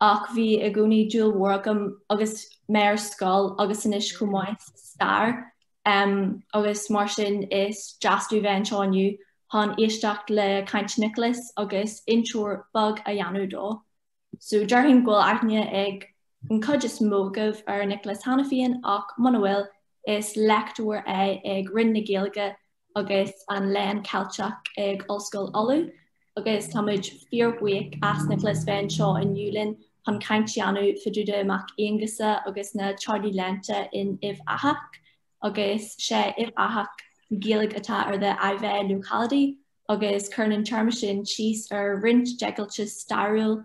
ach bhí i gcónaí dúil mhór agam agus mé ar scoil agus anois chomh maith sa stair agus mar sin is deas domh bheith anseo inniu chun éisteacht le caint Nioclás agus intreoir beag a dhéanamh dó. So déarfainn go bhfuil aithne ag an cuid is mó agaibh ar Nioclás cheana féin ach muna bhfuil is léachtóir é ag Roinn na Gaeilge agus an Léann Ceilteach ag Ollscoil Uladh agus tá muid fíorbhuíoch as Nioclás bheith anseo inniu linn chun caint a dhéanamh fá dtaobh de Mac Aonghusa agus na Teaghlaigh Léannta in Uíbh Eachach agus sé Uíbh Eachach Gaeilge atá ar the Iveagh locality agus cuireann an téarma sin síos ar roinnt deighilte stairiúil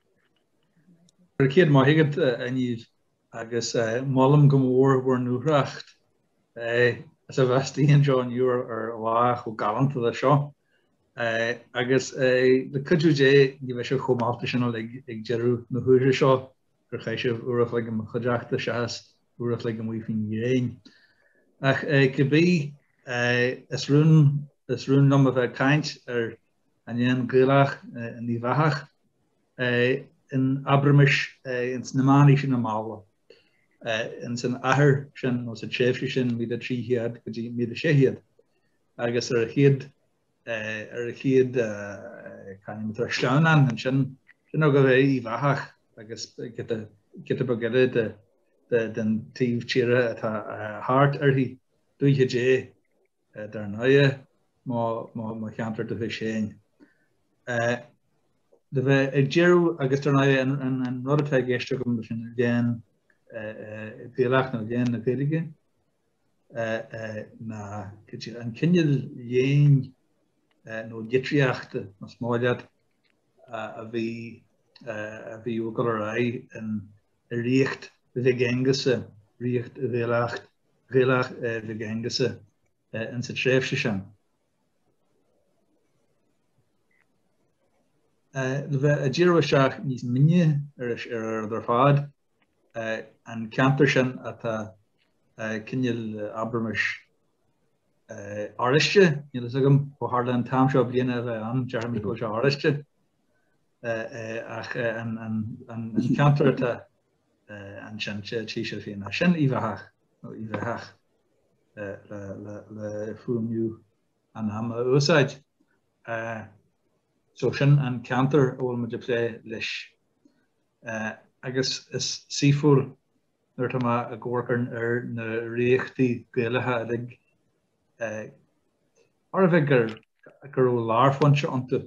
Go raibh céad maith agat, a Niamh, agus molaim go mór bhur ndúthracht as a bheith istigh anseo inniu ar lá chomh galánta leis seo. Agus le cuidiú Dé, ní bheidh sibh chomh meallta sin uilig ag deireadh na huaire seo gur chaith sibh uair a chloig i mo chuideachta seachas uair a chloig amuigh faoin ngréin. Ach cibé, is rún liom a bheith ag caint ar an léann Gaelach in Uíbh Eachach in abraimis ins na meánaoiseanna malla ins an achar sin nó sa tréimhse sin 1300 go dtí 1600 agus ar a chéad ar a chéad caithfidh tar sleamhnán ansin sin ó go bheith Uíbh Eachach agus giota beag eile de den taobh tíre atá thart uirthi dúiche Dé dar ndóighe, mo cheantar dúchais féin. Le bheith ag díriú, agus dar ndóighe an rud atá i gceist agam leis an léann Gaelach nó léann na Gaeilge ná an cineál léinn nó litríochta, más maith leat, a bhí ag dul ar aghaidh in. i ríocht Mhic Aonghusa, ríocht Ghaelach Mhic Aonghusa, in sa tréimhse sin. Le bheith ag díriú isteach níos mine ar fad, an ceantar sin atá cineál, abraimis, oráiste, níl a fhios agam ó tharla an t-am seo bliana a bheith ann, déarfaimid go bhfuil sé oráiste, Ach an ceantar atá ansin, tí sibh féin, ach sin Uíbh Eachach, nó Uíbh Echach le fuaimniú an ama a úsáid. So sin an ceantar a bhfuil muid ag plé leis. Agus is saoithiúil nuair atá mé ag amharc ar na ríochtaí Gaelacha uilig, mar a bheadh go raibh lárphointe iontu,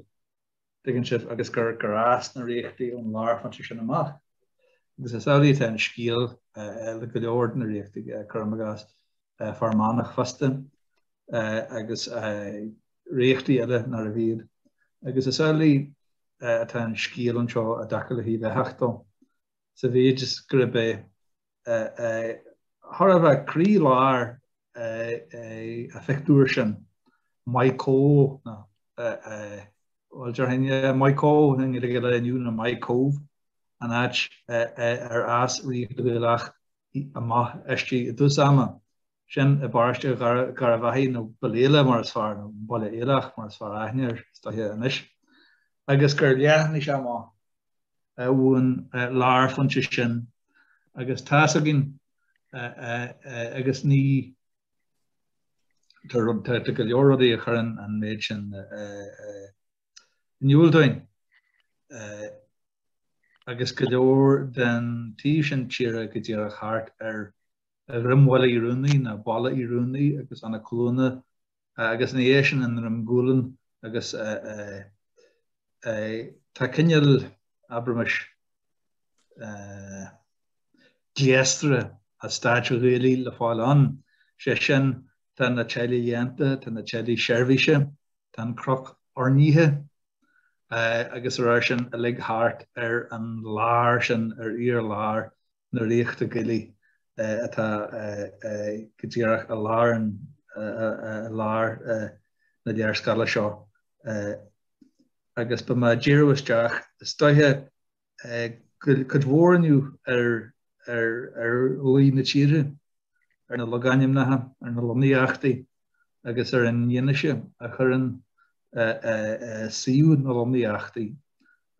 dtuigeann sibh, agus gur fhás na ríochtaí ón lárphointe sin amach. Agus is amhlaidh atá an scéal le go leor de na ríochtaí, cuirim i gcás Fear Manach fosta, agus ríochtaí eile nárbh iad. Agus is amhlaidh atá an scéal anseo i dtaca le hUíbh Echach dó, sa mhéid is gurb é, Thar a bheith croí-lár an phictiúir sin, Maigh Cobha, bhuel déarfainn yeah, Maigh Cobha i nGaeilge an lae inniu nó Maigh Cobha, an áit ar fhás ríocht Ghaelach amach aisti i dtús ama. sin i bparóiste Gharbhachaidh nó Ballela mar is fearr, nó Baile Aileach mar is fearr aithne air is dóiche anois, agus gur leathnaigh sé amach ón lárphointe sin agus tá's againn agus ní, tá go leor rudaí a chuireann an méid sin in iúl dúinn agus go leor den taobh sin tíre go díreach thart ar Dhroim Bhaile Uí Ruanaí, nó Ballyroney agus Eanach Cluana agus ina dhiaidh sin i nDroim Gualann agus tá cineál, abraimis, gléasra an stáit Ghaelaigh le fáil ann, sé sin tá na teaghlaigh léannta, tá na teaghlaigh seirbhíse, tá an cnoc oirnithe agus dá réir sin uilig thart ar an lár sin, ar fhíor-lár na Ríochta Gaelaí atá go díreach i lár na léarscáile seo agus beidh mé ag díriú isteach is dóiche cuid mhór inniu ar luí na tíre, ar na logainmneacha, ar na lonnaíochtaí agus ar an fhianaise a chuireann suíomh na lonnaíochtaí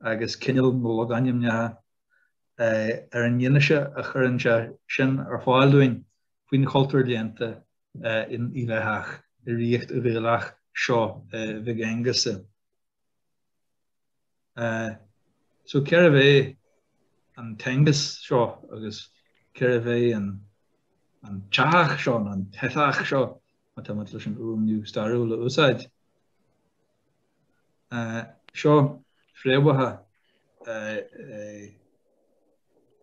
agus cineál na logainmneacha ar an fhianaise a chuireann sé sin ar fáil dúinn faoin chultúr léannta in Uíbh Eachach i ríocht Ghaelach seo Mhig Aonghusa. So cérbh é an tAonghus seo agus cérbh é an tEachach seo nó an tEchach seo, má tá muid leis an fhuaimniú stairiúil a úsáid? Seo fréamhacha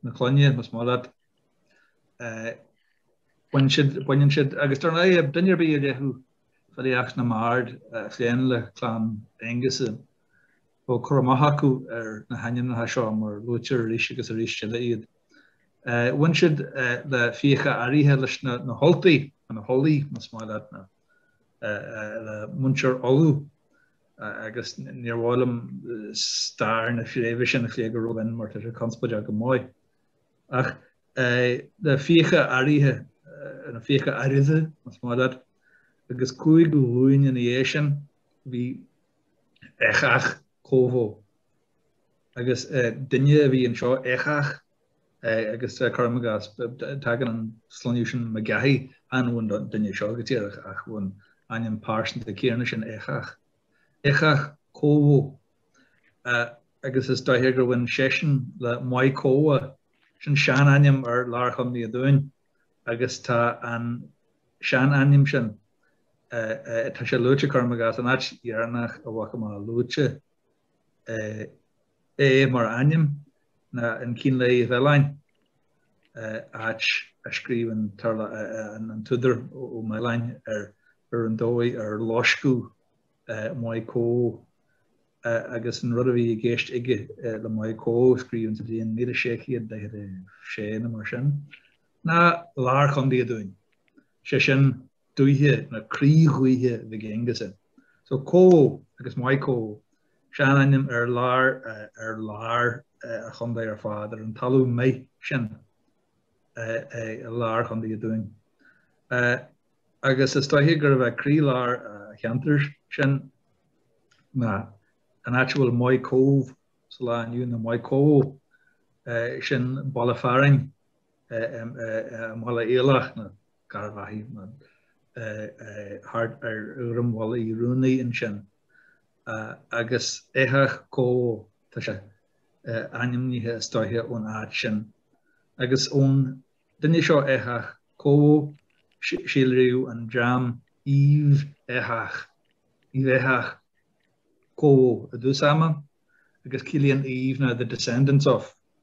na clainne, más maith leat. Baineann siad, baineann siad, agus dar ndóigh duine ar bith a léifeadh filíocht na mbard a phléann le Clann Aonghusa, bheadh cur amach acu ar na hainmneacha seo mar luaitear arís agus arís eile iad. Bhain siad le Fiacha Araidhe leis na hUltaigh, nó na hUlaidh, más maith leat, le muintir Uladh agus níor mhaith liom stair na fréimhe sin a phlé go ró-mhion mar tá sé conspóideach go maith. Ach na Fiacha Araidhe, nó Fiacha Araidhe, más maith leat, agus cúig ghlúin ina dhiaidh sin bhí Eachach Cobha agus duine a bhí anseo, Eachach, Agus cuirim i gcás, tagann an sloinneadh sin McGahey, chan ón duine seo go díreach, ach ón ainm pearsanta céanna sin, Eachach. Eachach Cobha, agus is dóiche gur bhain seisean le Maigh Cobha, sin seanainm ar lár Chontae an Dúin, agus tá an seanainm sin, tá sé luaite, cuirim i gcás, an áit dheireanach a bhfaca mé luaite. é mar ainm ná an Cín Lae Uí Mhealláin, áit a scríobhann an t-údar Ó Mealláin ar an dóigh ar loisceadh Maigh Cobha agus an rud a bhí i gceist aige le Maigh Cobha, scríobhann, sa bhliain 1646 nó mar sin, ná lár Chontae an Dúin, sé sin dúiche ná croí dhúiche Mhig Aonghusa. So Cobha agus Maigh Cobha, seanainm ar lár ar lár an chontae ar fad, ar an talamh méith sin i lár Chontae an Dúin. Agus is dóiche gurbh é croí lár an cheantair sin ná an áit a bhfuil Maigh Cobha sa lá inniu, nó Maigh Cobha, sin baile fearainn, Bhaile Aileach nó Garbhachadh nó thart ar Dhroim Bhaile Uí Ruanaí ansin agus Eachach Cobha tá sé ainmnithe is dóiche ón áit sin agus ón duine seo Eachach Cobha síolraíodh an dream Uíbh Eachach, Uíbh Eachach Cobha i dtús ama agus ciallaíonn Uíbh ná the descendants of.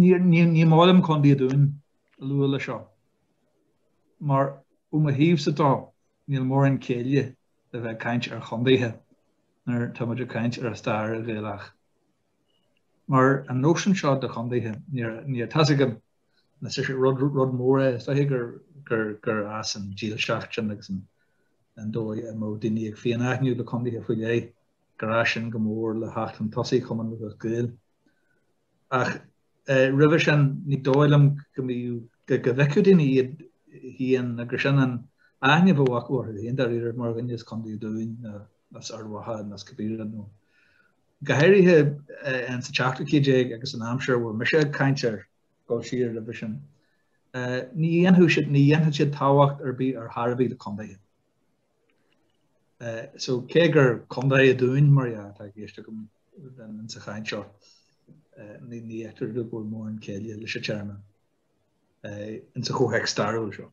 Ní maith liom Condae an Dúin a lua leis seo mar ó mo thaobhsa de níl mórán céille a bheith ag caint ar chondaetha nuair atá muid ag caint ar an stair Ghaelach mar an nóisean seo de chondaetha níor tá a fhios agam anois gur rud mór é is dóichí gur fhás an dílseacht sin agus an dóigh a mbeadh daoine ag féinaithniú le condaetha faoi leith. gur fhás sin go mór le theacht chun tosaigh Chumann Lúthchleas Gael. Ach roimhe sin, ní dóigh liom go mbíodh, go bhfeicfeadh daoine iad féin, nó gur sin an aithne a bheadh acu orthu féin, dáiríre, mar dhuine as Contae an Dúin, nó as Ard Mhacha, nó as cibé rud, nó go háirithe in sa tseachtú céad déag agus an aimsir a bhfuil mise ag caint air, dul siar roimhe sin. Ní dhéanfadh siad, ní dhéanfadh siad tábhacht ar bith ar chor ar bith le contaetha. So, cé gur Contae an Dúin, mar dhea, atá i gceist agam in sa chaint seo, ní fheictear go bhfuil mórán céille leis an téarma in sa chomhthéacs stairiúil seo.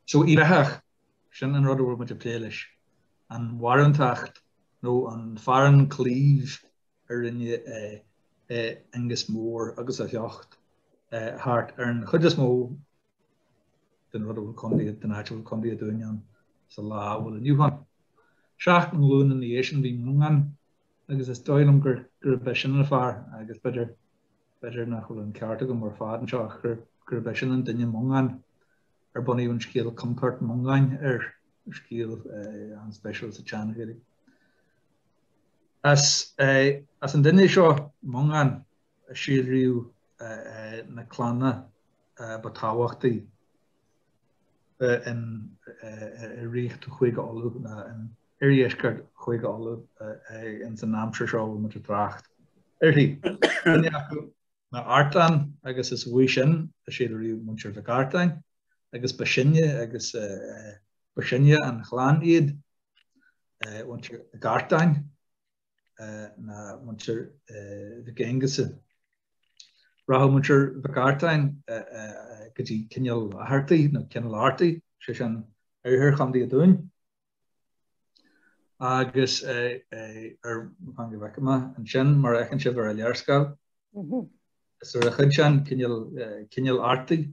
So, Uíbh Eachach, sin an rud a bhfuil muid ag plé leis, an bharúntacht nó an fearann claímh a rinne Aonghas Mór agus a shliocht thart ar an chuid is mó den rud a bhfuil contae, den áit a bhfuil Contae an Dúin ann sa lá a bhfuil inniu ann. Seacht nglúin ina dhiaidh sin bhí Mongán agus is dóigh liom gur gurb é sin an fear, agus b'fhéidir, b'fhéidir nach bhfuil an ceart agam ar fad anseo, gur gurb é sin an duine Mongán ar bunaíodh an scéal Compert Mongáin air, scéal an-speisiúil sa tSean-Ghaeilge. As as an duine seo, Mongán, síolraíodh na clanna ba tábhachtaí in ríocht Chúige Uladh, nó in oirdheisceart Chúige Uladh ins an aimsir seo a bhfuil muid ag trácht uirthi. Duine acu ná Artán agus is uaidh sin a síolraíodh Muintir Mhic Artáin agus ba sine agus ba shine an chlann iad Muintir Mhic Artáin. ná muintir Mhic Aonghusa. Rachadh muintir Mhic Artáin go dtí Cineál Fhaghartaigh, nó Cineál Artaigh, sé sin oirthear Chontae an Dúin, agus ar theanga bheag amach ansin, mar a fheiceann sibh ar an léarscáil. Is ar an chuid sin, Cineál Artaigh,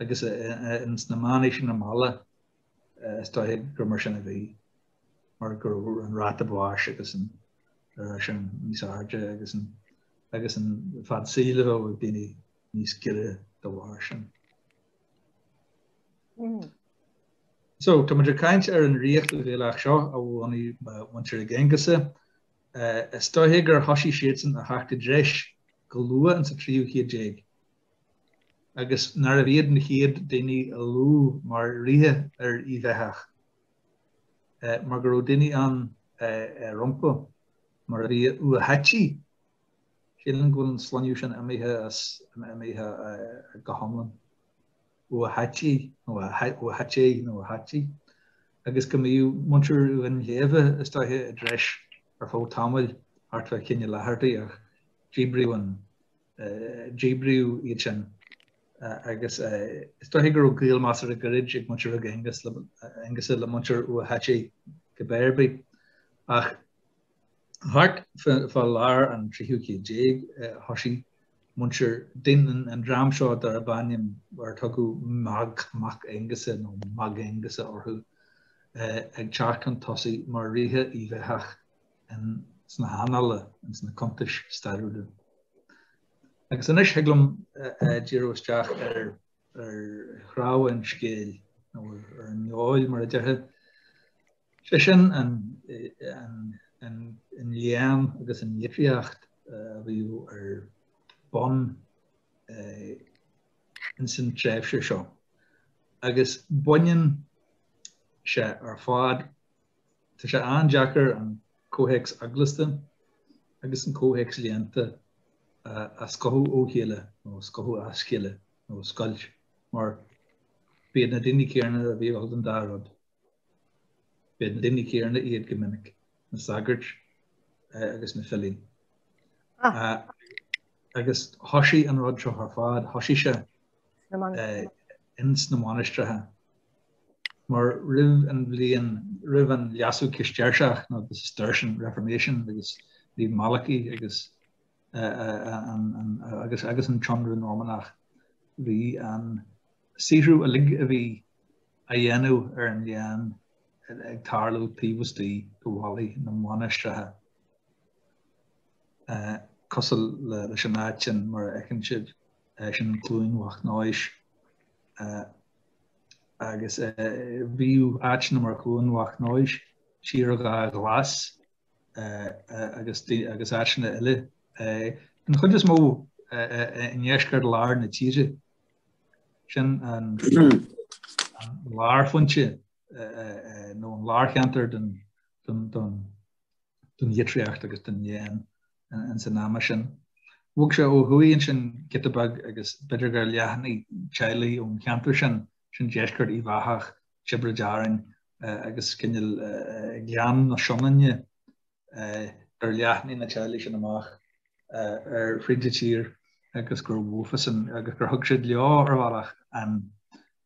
Agus ins na meánaoiseanna mall, is dóiche gur mar sin a bhí, mar go raibh an ráta báis agus sin níos airde agus an agus an fad saoil a bhí ag daoine níos giorra dá bharr sin. So, tá muid ag caint ar an ríocht Ghaelach seo a bhunaigh muintir Mhig Aonghusa. Is dóiche gur thoisigh siadsan a theacht i dtreis go luath ins an tríú chéad déag, agus nárbh iad na chéad daoine a luadh mar ríthe ar Uíbh Eathach, mar go raibh daoine ann rompu, mar a bhí, Ua hAití, sílim go bhfuil an sloinneadh sin imithe as, imithe go hiomlán, Ua hAití nó Ua hAité nó Ua hAití, agus go mbíodh muintir Dhuinnshléibhe is dóiche i dtreis ar feadh tamaill thart fá Chineál Fhaghartaigh ach díbríodh díbríodh iad sin agus is dóiche go raibh gaol measartha gairid ag muintir Mhig Aonghusa le muintir Ua hAití cibé ar bith. Ach thart fá lár an tríú chéad déag thoisigh muintir den, an dream seo darb ainm ar tugadh Mag Mac Aonghusa nó Mag Aonghusa orthu ag teacht chun tosaigh mar ríthe Uíbh Eathach. sna hannála, ins na cuntais stairiúla. Agus anois thig liom díriú isteach ar chnámha an scéil, nó ar an fheoil mar a déarfá, sé sin an léann agus an litríocht a bhíodh ar bun ins an tréimhse seo. Agus baineann sé ar fad Tá sé an-deacair an comhthéacs eaglasta agus an comhthéacs léannta a scothadh ó chéile, nó scothadh as a chéile, nó scoilt, mar b'iad na daoine céanna a bhí ag gabháil don dá rud. B'iad na daoine céanna iad go minic, na sagairt agus na filí. Agus thoisigh an rud seo ar fad, thoisigh sé ins na mainistreacha. Mar roimh an bhliain, roimh an leasú Cistéirseach, nó the Cistercian Reformation, agus roimh Malachy agus agus an t-ionradh Normannach, bhí an saothrú uilig a bhí á dhéanamh ar an léann ag tarlú taobh istigh de bhallaí na mainistreacha, cosúil leis an áit sin mar a fheiceann siad, sin Cluain Mhic Nóis. agus bhíodh áiteanna mar Cluain Mhac Nóis, Tír Dhá Ghlas agus áiteanna eile, an chuid is mó i ndeisceart láir na tíre. Sin an lárphointe nó an lárcheantar don don don don litríocht agus don léann ins an ama sin. Bhog sé ó thuaidh ansin giota beag agus b'fhéidir gur leathnaigh teaghlaigh ón cheantar sin, sin deisceart Uíbh Eathach, Tiobraid Árainn agus cineál Gleann na Sionainne, gur leathnaigh na teaghlaigh sin amach fríd an tír agus gur mhuv siadsan agus gur thug siad leo ar bhealach an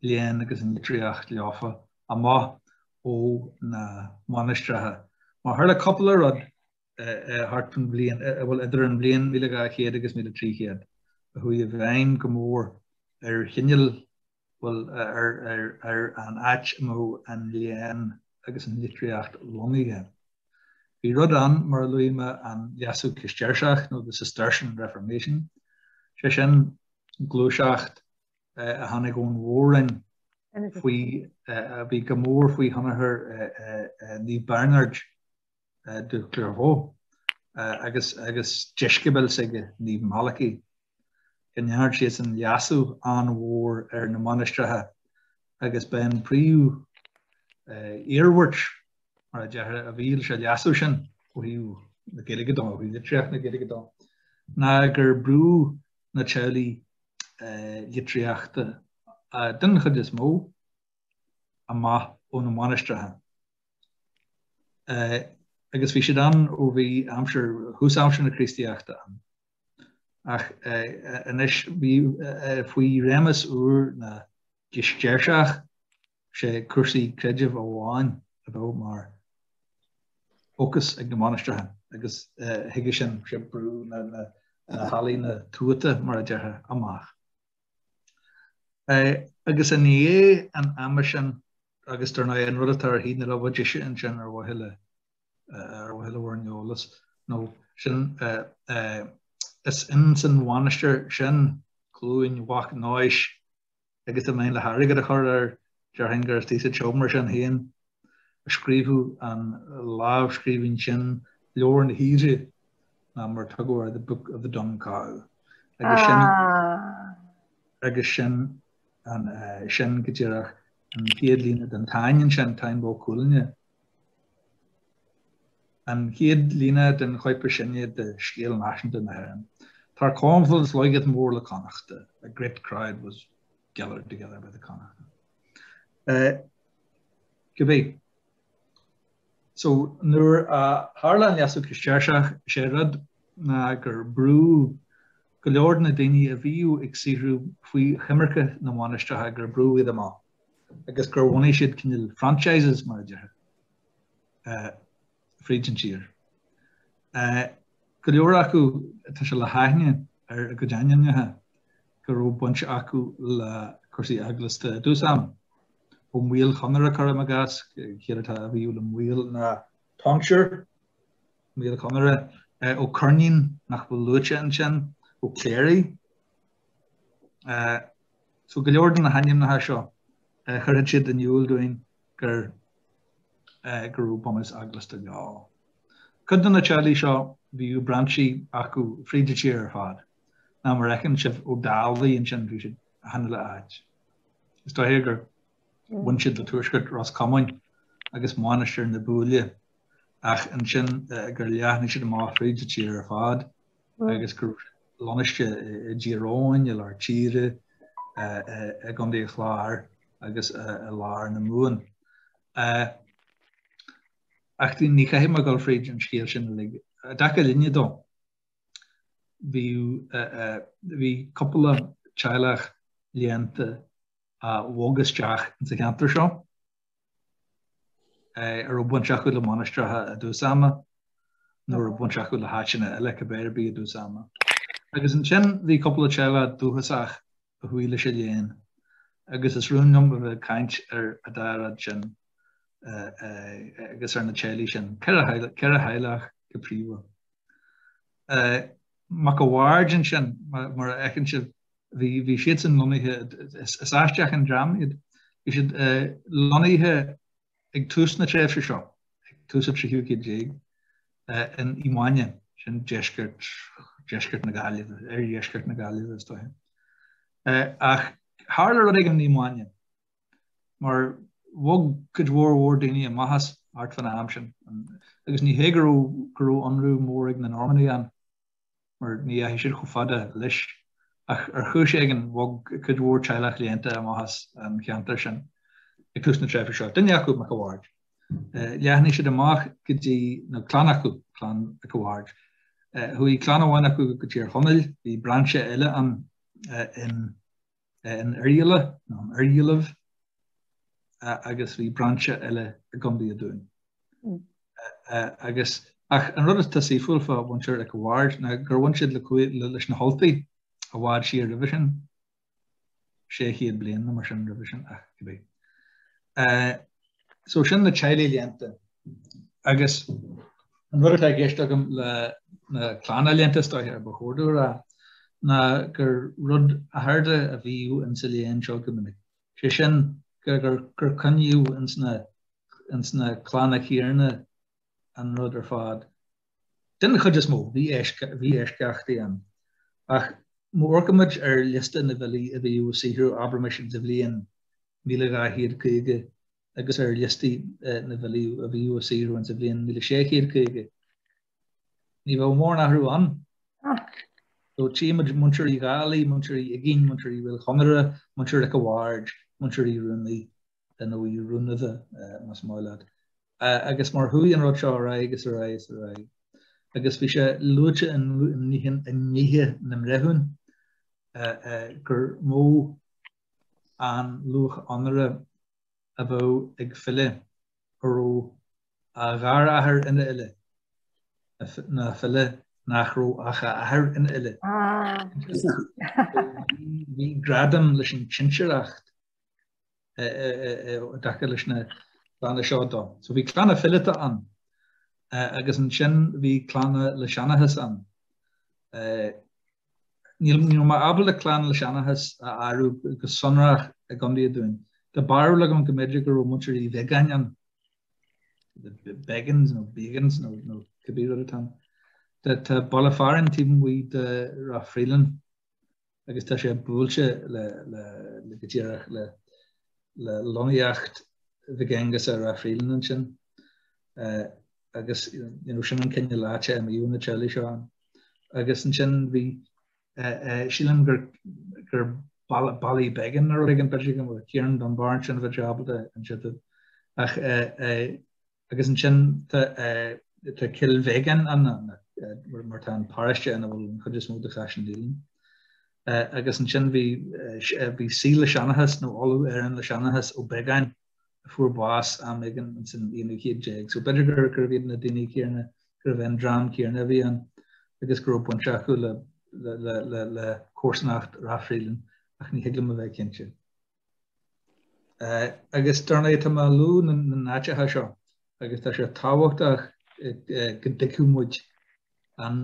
léann agus an litríocht leofa amach ó na mainistreacha. Mar tharla cúpla rud, thart fan bhliain, bhuel idir an bhliain 1200 agus 1300, a chuaigh i bhfeidhm go mór ar chineál bhuel ar an áit a mbeadh an léann agus an litríocht lonnaithe. Bhí rud ann, mar a luaigh mé, an Leasú Cistéirseach nó the Cistercian Reformation, sé sin, gluaiseacht a tháinig ón Mhór-roinn faoi, a bhí go mór faoi thionchar Naomh Bearnard, de Clairvaux, agus agus deisceabail s'aige, Naomh Malacaí, go ndearn siadsan leasú an-mhór ar na mainistreacha agus b'é an príomh iarmhairt, mar a déarfá, a bhí leis an leasú sin, ó thaobh na Gaeilge de, ó thaobh litríocht na Gaeilge de, ná gur brúdh na teaghlaigh litríochta, den chuid is mó, amach ó na mainistreacha. agus bhí siad ann ó bhí aimsir, thús aimsir na Críostaíochta ann. Ach anois bhí faoi réimeas úr na gCistéirseach, sé cúrsaí creidimh amháin a bheadh mar fhócas ag na mainistreacha agus chuige sin, sé brúdh na healaíona tuata, mar a déarfá, amach. Agus i ndiaidh an ama sin agus dar ndóigh, an rud atá ar thaobh na láimhe deise ansin ar mhaithe le bhur n-eolas nó sin is ins an mhainistir sin, Cluain Mhac Nóis, agus dá mbeinn le hairgead a chur air, déarfainn gur thíos sa tseomra sin féin a scríobhadh an lámhscríbhinn sin, Leabhar na hUidhre, ná mar a tugtar air The Book of the Dun Cow. Agus sin agus sin an sin go díreach An chéad líne den Táin ansin, Táin Bó Cuailgne. An chéad líne den chóip is sine de scéal náisiúnta na hÉireann. Tarcomlad slóiged mór la Connachta, a great crowd was gathered together by the Connachta. Cibé, So, nuair a tharla an Leasú Cistéirseach, is é rud ná gur brúdh go leor de na daoine a bhíodh ag saothrú faoi choimirce na mainistreacha, gur brúdh iad amach agus gur bhunaigh siad cineál franchises, mar a déarfá, fríd an tír. Go leor acu, tá sé le haithne ar a gcuid ainmneacha go raibh baint acu le cúrsaí eaglasta i dtús ama. Ó Maoil Chonaire cuirim i gcás, an chiall atá, a bhíodh le Maoil ná tonsure, Maoil Chonaire, Ó Coirnín, nach bhfuil luaite ansin, Ó Cléirigh. So go leor de na hainmneacha seo, chuirfeadh siad in iúl dúinn gur go raibh bunús eaglasta leo. Cuid de na teaghlaigh seo, bhíodh brainsí acu fríd an tír ar fad, ná mar fheiceann sibh Ó Dálaigh ansin, bhí siad achan uile áit. Is dóiche gur bhain siad le Tuaisceart Ros Comáin agus Mainistir na Búille ach ansin gur leathnaigh siad amach fríd an tír ar fad agus go raibh siad lonnaiste i dTír Eoghain, i lár tíre, i gContae an Chláir agus i lár na Mumhan. Ach ní chaithfidh mé dul fríd an scéal sin uilig. I dtaca linne dó, bhí cúpla teaghlach léannta a bhog isteach sa cheantar seo, a raibh baint acu le mainistreacha i dtús ama, nó a raibh baint acu le háiteanna eile cibé ar bith i dtús ama. Agus ansin bhí cúpla teaghlach dúchasach a chuaigh leis an léann, agus is rún liom a bheith ag caint ar an dá rud sin agus ar na teaghlaigh sin, ceithre theaghlach go príomha. Mac a' Bhaird ansin, mar a fheiceann sibh, bhí siadsan lonnaithe, is aisteach an dream iad, bhí siad lonnaithe ag tús na tréimhse seo, ag tús an tríú céad déag, in Uí Mhaine, sin deisceart, deisceart na Gaillimhe, oirdheisceart na Gaillimhe is dóiche. Ach tharla rud éigin in Uí Mhaine. mar bhog cuid mhór mhór daoine amach as an áit fán am sin, agus ní hé go raibh go raibh ionradh mór ag na Normannaigh ann, mar ní dheachaigh siad chomh fada leis, ach ar chúis éigin bhog cuid mhór teaghlach léannta amach as an cheantar sin ag tús na tréimhse seo. Duine acu, Mac a' Bhaird, leathnaigh siad amach go dtí na clann acu, clann Mhic a' Bhaird. Chuaigh clann amháin acu go Tír Chonaill, bhí brainse eile ann in in Oirghialla nó in Oirghiallaibh agus bhí brainse eile i gContae an Dúin. Agus ach an rud atá saoithiúil fá mhuintir Mhic a' Bhaird ná gur bhain siad leis na hUltaigh i bhfad siar roimhe sin, sé chéad bliain nó mar sin roimhe sin ach cibé. So sin na teaghlaigh léannta. Agus an rud atá i gceist agam le na clanna léannta, is dóiche, ba chóir dom a rá, ná gur rud athartha a bhíodh ins a léann seo go minic, sé sin gur coinníodh ins na clanna céarna an rud ar fad. Den chuid is mó, bhí eisceachtaí ann, ach má amharcaimid ar liosta na bhfilí a bhíodh ag saothrú abraimis ins an bhliain míle dhá chéad caoga agus ar liostaí na bhfilí a bhíodh ag saothrú ins an bhliain míle sé chéad caoga, ní bheadh mórán athrú ann. So, tchímid Muintir Uí Dhálaigh, Muintir Uí Uiginn, Muintir Uí Mhaolchonaire, Muintir Mhic a' Bhaird, Muintir Uí Ruanaidh. nó Uí Ruanadha, más maith leat. Agus mar chuaigh an rud seo ar aghaidh is ar aghaidh is ar aghaidh agus bhí sé luaite i ndlíthe na mbreithiúin gur mó an luach onóra a bheadh ag file a raibh a gharathair ina fhile ná file nach raibh ach a athair ina fhile. Bhí gradam leis an tsinsearacht. dtaca leis na clanna seo de. So bhí clanna fileata ann agus ansin bhí clanna le seanchas ann. Níl mé ábalta clann le seanchas a áireamh go sonrach i gContae an Dúin. Tá barúil agam go mb'fhéidir go raibh muintir Uí Bheagáin ann, the Beggins nó Beagans nó cibé rud atá ann. Tá baile fearainn taobh amuigh de Ráth Fraoileann. agus tá sé buailte le, le, le go díreach le, le lonnaíocht Mhig Aonghusa ar Ráth Fraoileann ansin. Eh, agus, you know, sin an cineál áite a mbíodh na teaghlaigh seo ann. Agus ansin bhí, eh, eh, sílim gur, gur Bally, Bally Began nó rud éigin, b'fhéidir go, Ciarán Dunbar ansin bheadh sé ábalta inse. Ach, eh, eh, Agus ansin tá Cill Bheagáin ann, mar tá an paráiste ina bhfuil an chuid is mó de Chaisleán Uidhilín. Agus ansin bhí saoi le seanchas, nó Ollamh Éireann le Seanchas Ó Beagáin, a fuair bás am éigin san aonú céad déag. So b'fhéidir gurbh iad na daoine céanna, gurbh é an dream céanna a bhí ann agus go raibh baint acu le comharsanacht Ráth Fraoileann, ach ní thig liom a bheith cinnte. Agus dar ndóigh, tá mé ag luadh na n-áiteacha seo agus tá sé tábhachtach go dtuigfeadh muid an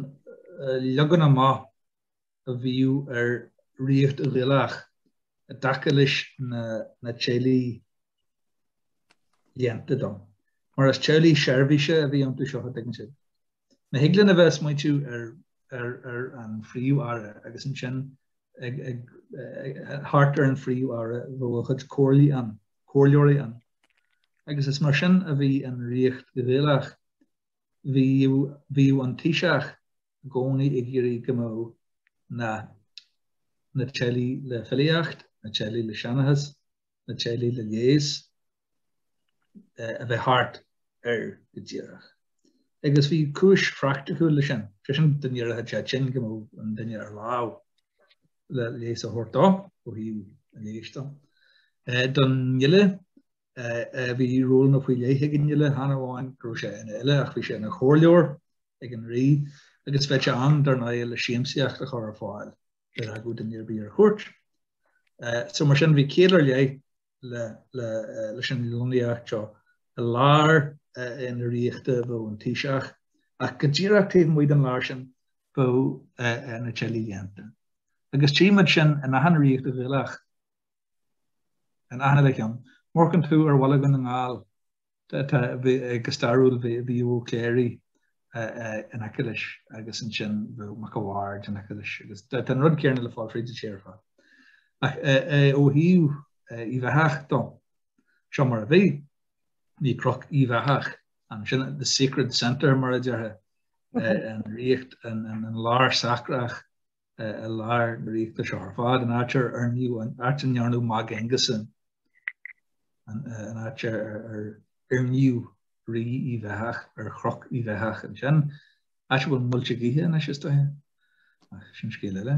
leagan amach a bhíodh ar ríocht Ghaelach i dtaca leis na teaghlaigh léannta dom, mar is teaghlaigh seirbhíse a bhí iontu seo, an dtuigeann sibh. Má thig linn a bheith ag smaoitiú ar an phríomh-aire agus ansin thart ar an phríomh-aire bheadh a chuid comhairlí ann, comhairleoirí ann. Agus is mar sin a bhí an Ríocht Ghaelach, bhíodh an Taoiseach i gcónaí ag iarraidh go mbeadh na teaghlaigh le filíocht, na teaghlaigh le seanchas, na teaghlaigh le leigheas, a bheith thart air go díreach. Agus bhí cúis phraicticiúil leis sin, sé sin dá n-éireodh sé tinn go mbeadh an duine ar láimh le leigheas a thabhairt dó ó thaobh an leighis de. Don fhile bhí rólanna faoi leith ag an fhile, chan amháin go raibh sé ina fhile ach bhí sé ina chomhairleoir ag an rí agus bheadh sé ann dar ndóigh le siamsaíocht a chur ar fáil ar ócáid an iarraidh ar chuairt. So mar sin bhí ciall ar leith leis an lonnaíocht seo i lár na ríochta a bheadh an taoiseach, ach go díreach taobh amuigh den lár sin bheadh na teaghlaigh léannta. Agus tchímid sin in achan ríocht Ghaelach, in achan uile cheann. Má amharcann tú ar bhaile Dhún na nGall, go stairiúil bhí Ó Cléirigh in aice leis agus ansin bhí Mac a' Bhaird in aice leis agus tá an rud céarna le fáil fríd an tír ar fad. Ach ó thaobh Uíbh Eathach de, seo mar a bhí, bhí Croc Uíbh Eathach ansin, the sacred centre mar a déarfá an ríocht, an lár sacrach. i lár na ríochta seo ar fad, an áit ar oir, an áit a ndearnadh Mag Aonghusa ann, an áit ar oirníodh rí Uíbh Eathach ar Chroc Uíbh Eathach ansin, áit a bhfuil muilte gaoithe anois, is dóiche, ach sin scéal eile.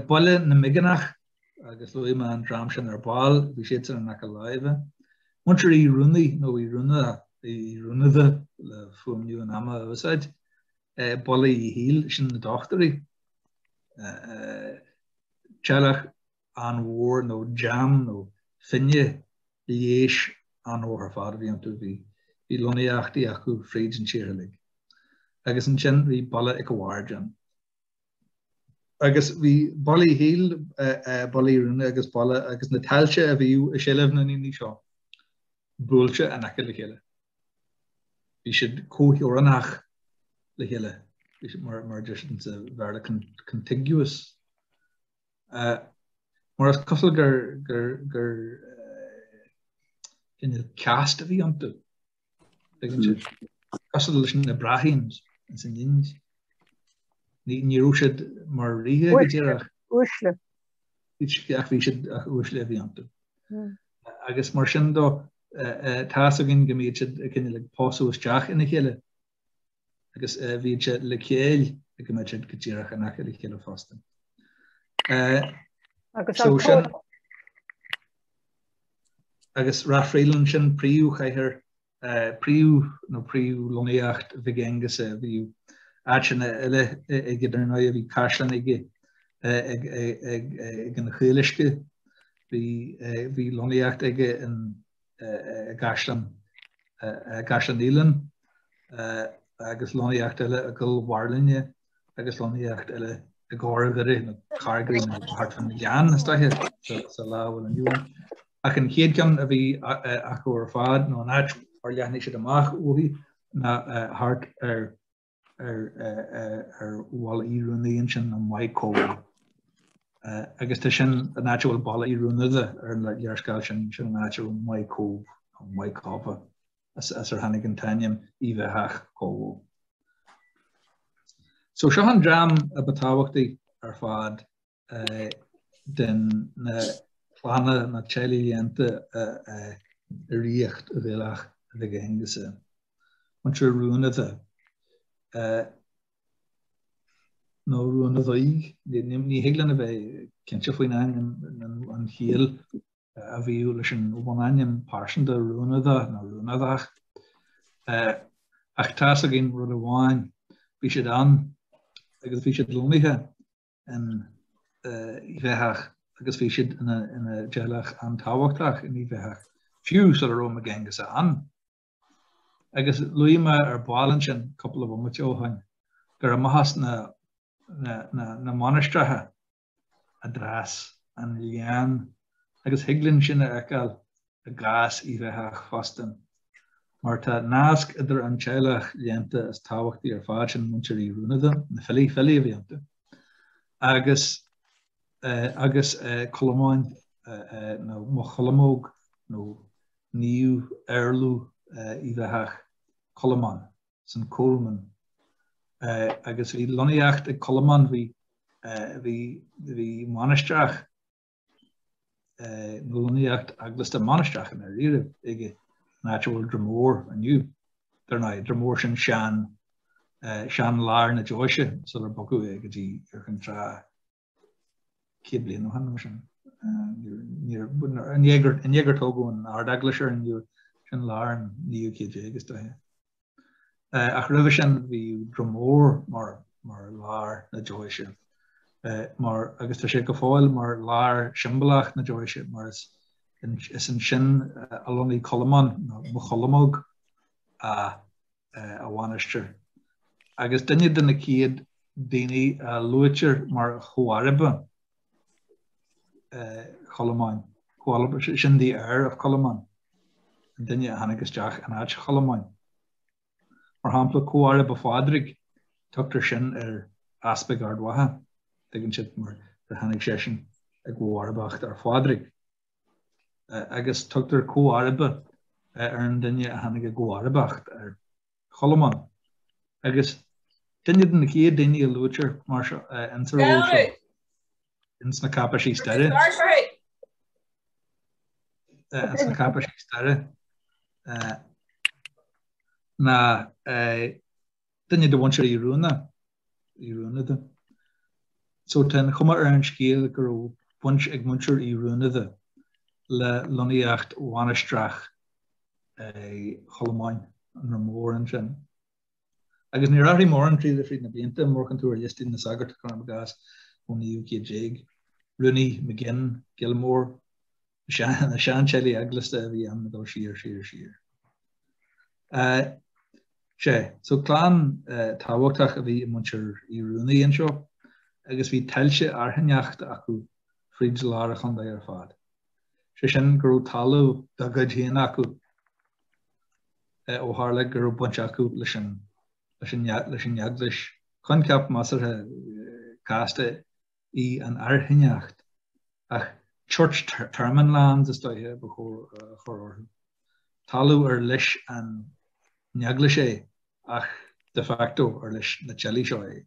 Baile na Migeanach, agus luaigh mé an dream sin ar ball, bhí siadsan in aice láimhe. Muintir Uí Ruanaí, nó Uí Rua, Uí Ruanadha le fuaimniú an ama a úsáid, Baile Uí Shiail, sin na dochtúirí, teaghlach an-mhór nó dream nó fine leighis an-mhór ar fad a bhí iontu, bhí lonnaíochtaí acu fríd an tír uilig. Agus ansin bhí Baile Mhic a' Bhaird ann. agus bhí Baile Uí Shiail, Baile Uí Ruanadha agus Baile agus na tailte a bhí i seilbh na ndaoine seo buailte in aice le chéile. Bhí siad comhtheorannach le chéile, mar a deir siad in sa Bhéarla, contiguous. Mar is cosúil gur cineál caste a bhí iontu. Cosúil leis na Brahmins ins an Ind. Ní raibh siad mar ríthe go díreach. Uaisle. Ach bhí siad ach uaisle a bhí iontu. Agus mar sin dó, tá's againn go mbíodh siad ag cineál ag pósadh isteach ina chéile agus luíonn sé le céill go mbíodh siad go díreach in aice le chéile fosta. Agus Ráth Fraoileann sin príomhchathair príomh nó príomhlonnaíocht Mhig Aonghusa é. Bhí áiteanna eile aige ar ndóigh, bhí caisleán aige ag an Chaol Uisce, bhí lonnaíocht aige in i gCaisleán Uidhilín agus lonnaíocht eile i gCoill Bhairlinne agus lonnaíocht eile i gCorrdhoire nó Corgary nó thart fán Ghleann is dóiche sa lá a bhfuil inniu ann. Ach an chéad ceann a bhí acu ar fad nó an áit ar leathnaigh siad amach uaithi ná thart ar ar Bhaile Uí Ruanadha ansin nó Maigh Cobha. Agus tá sin an áit a bhfuil Baile Uí Ruanadha ar an léarscáil sin, sin an áit a bhfuil Maigh Cobh, nó Maigh Cobha, as ar tháinig an t-ainm Uíbh Eathach Cobha. So seo an dream a ba thábhachtaí ar fad den na clanna, na teaghlaigh léannta i ríocht Uíbh Eathach Mhig Aonghusa, Muintir Ruanaidhe, nó Ruanadhaigh, ní thig linn a bheith cinnte faoin ainm, an chiall a bhíodh leis an bhunainm pearsanta Ruanada nó Ruanadach. Ach tá 's againn rud amháin, bhí siad ann agus bhí siad lonnaithe Uíbh Eathach agus bhí siad ina dteaghlach an-tábhachtach in Uíbh Eathach, fiú sula raibh Mag Aonghusa ann. Agus luaigh mé ar ball ansin cúpla bomaite ó shoin go raibh maitheas na mainistreacha i dtreis an léann agus thig linn sin a fheiceáil i gcás Uíbh Eathach fosta, mar tá nasc idir an teaghlach léannta is tábhachtaí ar fad sin, muintir Uí Ruanada, na filí, filí a bhí iontu, agus agus Colmán nó Mo Cholmóg nó naomh éarlamh Uíbh Eathach, Colmán, Saint Colman. Agus bhí lonnaíocht ag Colmán, bhí bhí bhí mainistreach lonnaíocht eaglasta mainistreach ann ariamh ag an áit a bhfuil Droim Mór inniu, dar ndóigh, Droim Mór sin sean, sean lár na deoise sular bogadh é go dtí Iúr Chinn Trá céad bliain ó shin nó mar sin. I ndiaidh gur tógadh an Ard-Eaglais ar an Iúr, sin lár an naoú céad déag is dóiche. ach roimhe sin bhí Droim Mór mar lár na deoise mar agus tá sé go fóill mar lár siombalach na deoise mar is ansin a lonnaigh Colmán nó Mo Cholmóg a mhainistir agus duine de na chéad daoine a luaitear mar chomharba Cholmáin, comharba, sin the heir of Colmán, an duine a tháinig isteach in áit Cholmáin. Mar shampla, Comharba Phádraig, tugtar sin ar Easpaig Ard Mhacha, tuigeann siad mar gur tháinig seisean i gcomharbacht ar Phádraig, agus tugtar Comharba ar an duine a tháinig i gcomharbacht ar Cholmán, agus duine de na chéad daoine a luaitear mar seo ins an ról seo ins na cáipéisí staire. ins na cáipéisí staire ná duine de mhuintir Uí Ruanada. So tá an chuma ar an scéal go raibh baint ag muintir Uí Ruanada le lonnaíocht mhainistreach Cholmáin, i nDroim Mór ansin? Agus níor athraigh mórán tríd fríd na blianta, má amharcann tú ar liostaí na sagairt cuirim i gcás ón naoú céad déag, Rooney, McGinn, Gilmore, na seanteaghlaigh eaglasta a bhí ann ag dul siar, siar, siar. Sea, so clann tábhachtach a bhí i muintir Uí Ruanaí anseo agus bhí tailte airchinneachta acu fríd lár an chontae ar fad. sé sin go raibh talamh dá gcuid féin acu ó tharla go raibh baint acu leis an leis an eaglais. Coincheap measartha casta í an airchinneacht ach church termon lands is dóiche ba chóir orthu. Talamh ar leis an eaglais é ach de facto ar leis na teaghlaigh seo é.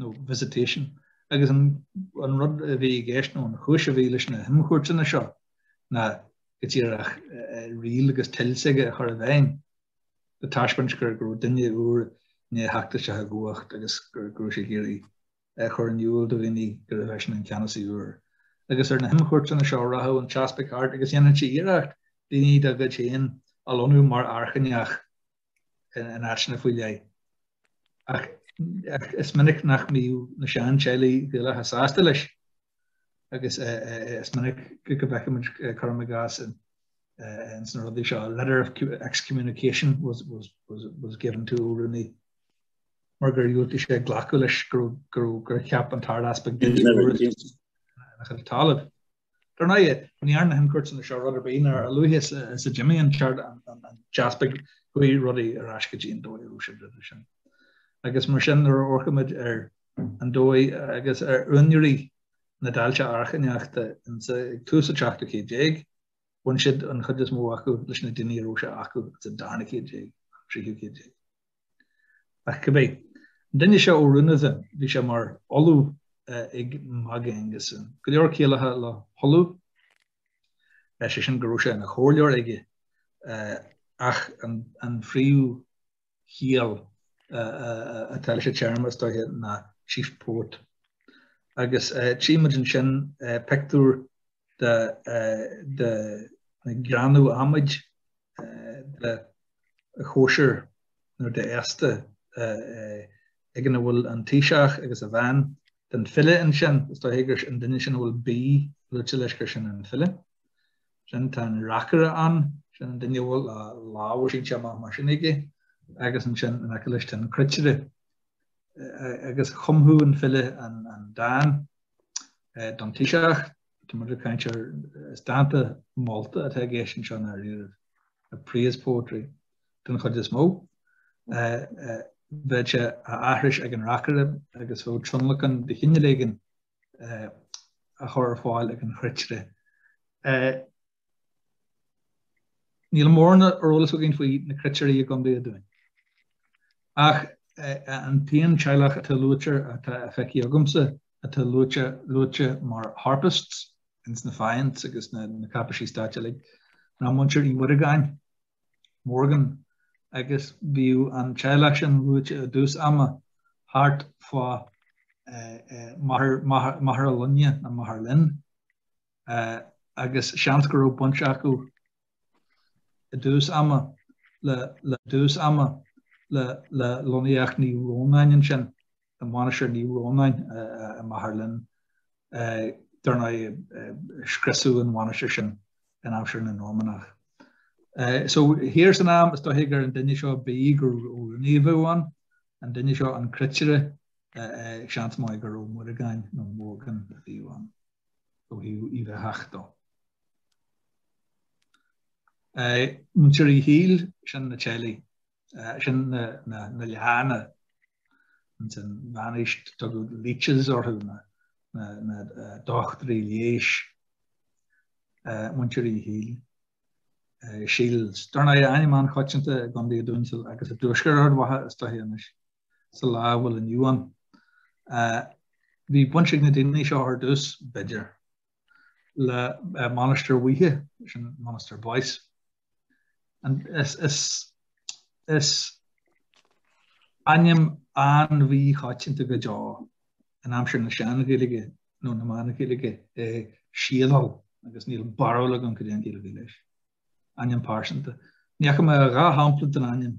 nó visitation, agus an rud a bhí i gceist, nó an chúis a bhí leis na himchuairteanna seo, ná go díreach riail agus toil s'aige a chur i bhfeidhm, le taispeáint go raibh duine úr i ndéidh theacht isteach i gcumhacht agus go raibh sé ag iarraidh a chur in iúl do dhaoine gurbh eisean an ceannasaí úr. Agus ar na himchuairteanna seo rachadh an t-easpag thart agus dhéanfadh sé iarracht daoine dá chuid féin a lonnú mar airchinneach in áiteanna faoi leith. Ach is minic nach mbíodh na seanteaghlaigh Gaelacha sásta leis agus is minic go bhfeicfimid cuirim i gcás ins na rudaí seo, a letter of excommunication was given to O'Rooney mar gur dhiúltaigh sé glacadh leis gur cheap an tArd-Easpag duine ina chuid talaimh. Dar ndóigh, ní dhearna na himchuairteanna seo rud ar bith, nó a luaithe is a d'imigh an t-ard, an t-easpag, chuaigh rudaí ar ais go dtí an dóigh a raibh siad roimhe sin. Agus mar sin, nuair a amharcann muid ar an dóigh agus ar úinéirí na dtailte airchinneachta ag tús an tseachtú céad déag, bhain siad an chuid is mó acu leis na daoine a raibh sé acu ins an darna céad déag, an tríú céad déag. Ach cibé, an duine seo Ó Ruanadha then, bhí sé mar ollamh ag Mag Aonghusa. Go leor ciallaithe le hollamh, is é sin go raibh sé ina chomhairleoir aige, ach an phríomhchiall atá leis an téarma, is dóiche, ná chief poet. Agus tchí muid ansin, pictiúr de ghreanadh adhmaid de chóisir nó de fhéasta ag an a bhfuil an Taoiseach agus a bhean tá an file ansin, is dóiche gur an duine sin a bhfuil B luaite leis gur sin an file sin, tá an reacaire ann, sin an duine a bhfuil a lámha sínte amach mar sin aige agus ansin in aice leis tá an cruitire agus chumfadh an file an dán don Taoiseach. Tá muid ag caint ar, is dánta molta atá i gceist anseo i ndáiríre, praise poetry den chuid is mó. Bheadh sé á aithris ag an reacaire agus bheadh tionlacan de chineál éigin á chur ar fáil ag an chruitire. Níl mórán ar eolas againn faoi na Cruitirí i gContae an Dúin, ach an t-aon teaghlach atá luaite, atá feicthe agamsa, atá luaite mar Harpists ins na Fiants agus na cáipeisí stáit uilig, ná muintir Uí Mhuireagáin, Morgan, agus bhíodh an teaghlach sin luaite i dtús ama thart fá Machaire Lainne, nó Magheralin. agus seans go raibh baint acu i dtús ama le le dtús ama le le lonnaíocht Naomh Rónán ansin, i Mainistir Naomh Rónán i Magheralin, dar ndóigh scriosadh an mhainistir sin in aimsir na Normannach. So thiar san am is dóichí gur an duine seo b'fhéidir gur Ó Ruanaí a bheadh ann, an duine seo an cruitire, seans maith go raibh Muireagáin nó Morgan a bhíodh ann. ó thaobh Uíbh Eachach dó. Muintir Uí Shiail, sin na teaghlaigh, sin na lianna, insan mheánaois tugadh leeches orthu, na dochtúirí leighis, muintir Uí Shiail. Shields dar ndóigh ainm an-choitianta i gContae an Dúin agus i dtuaisceart Ard Mhacha is dóiche anois. sa lá a bhfuil inniu ann. Bhí baint ag na daoine seo ar dtús, b'fhéidir, le Mainistir Bhuithe, sin Monasterboice. Is ainm an-mhíchoitianta go deo in aimsir na Sean-Ghaeilge nó na Meán-Ghaeilge é Siadhal agus níl barúil agam cad é an chiall leis. Ainm pearsanta. Ní fhaca mé ach dhá shampla den ainm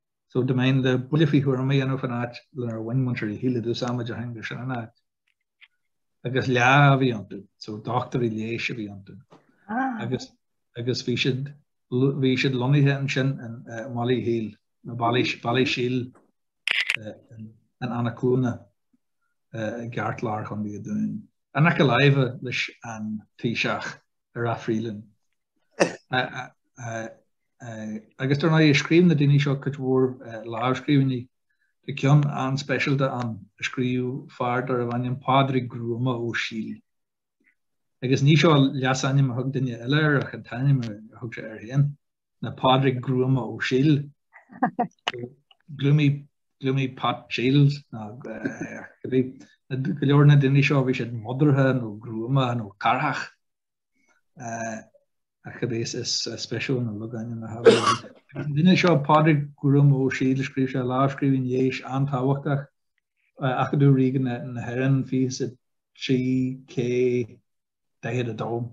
so dá mbeinn le buille faoi thuairim a dhéanamh faoin áit lenar bhain muintir Uí Shiail i dtús ama déarfainn gur sin an áit. Agus leá a bhí iontu, so dochtúirí leighis a bhí iontu. Agus agus bhí siad bhí siad lonnaithe ansin i mBaile Uí Shiail, nó Bally, Ballysheil in Eanach Cluana i gceartlár Chontae an Dúin. In aice láimhe leis an Taoiseach i Ráth Fraoileann. agus dar ndóigh scríobh na daoine seo cuid mhór lámhscríbhinní. Tá ceann an-speisialta ann a scríobh fear darbh ainm Pádraig Gruama Ó Siail. Agus ní seo leasainm a thug duine eile air ach an t-ainm a thug sé air féin, ná Pádraig Gruama Ó Siail. Gloomy Gloomy Pat Shields ná go leor na daoine seo bhí siad modartha nó gruama nó carrach. ach cibé is spéisiúil na logainmneacha fiú. Agus an duine seo, Pádraig Gruama Ó Siail, scríobh sé, lámhscríbhinn leighis an-tábhachtach, Acadamh Ríoga na hÉireann, fiche is a 3, K, 42.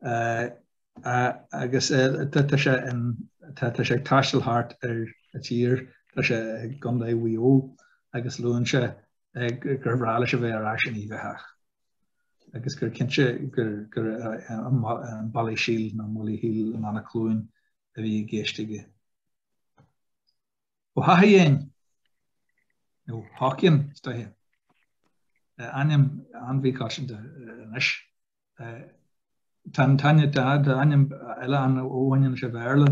Agus tá sé in, tá sé ag taisteal thart ar an tír, tá sé i gContae Mhaigh Eo agus luann sé gur bhreá leis a bheith ar ais in Uíbh Eachach. agus gur cinnte gur gur an Ballysheil nó Baile Uí Shiail in Annaclone a bhí i gceist aige. Ó hEachaidhéin, nó Haughian is dóiche, ainm an-mhíchoitianta anois, tá ainm eile ann ó bhain leis an Bhéarla,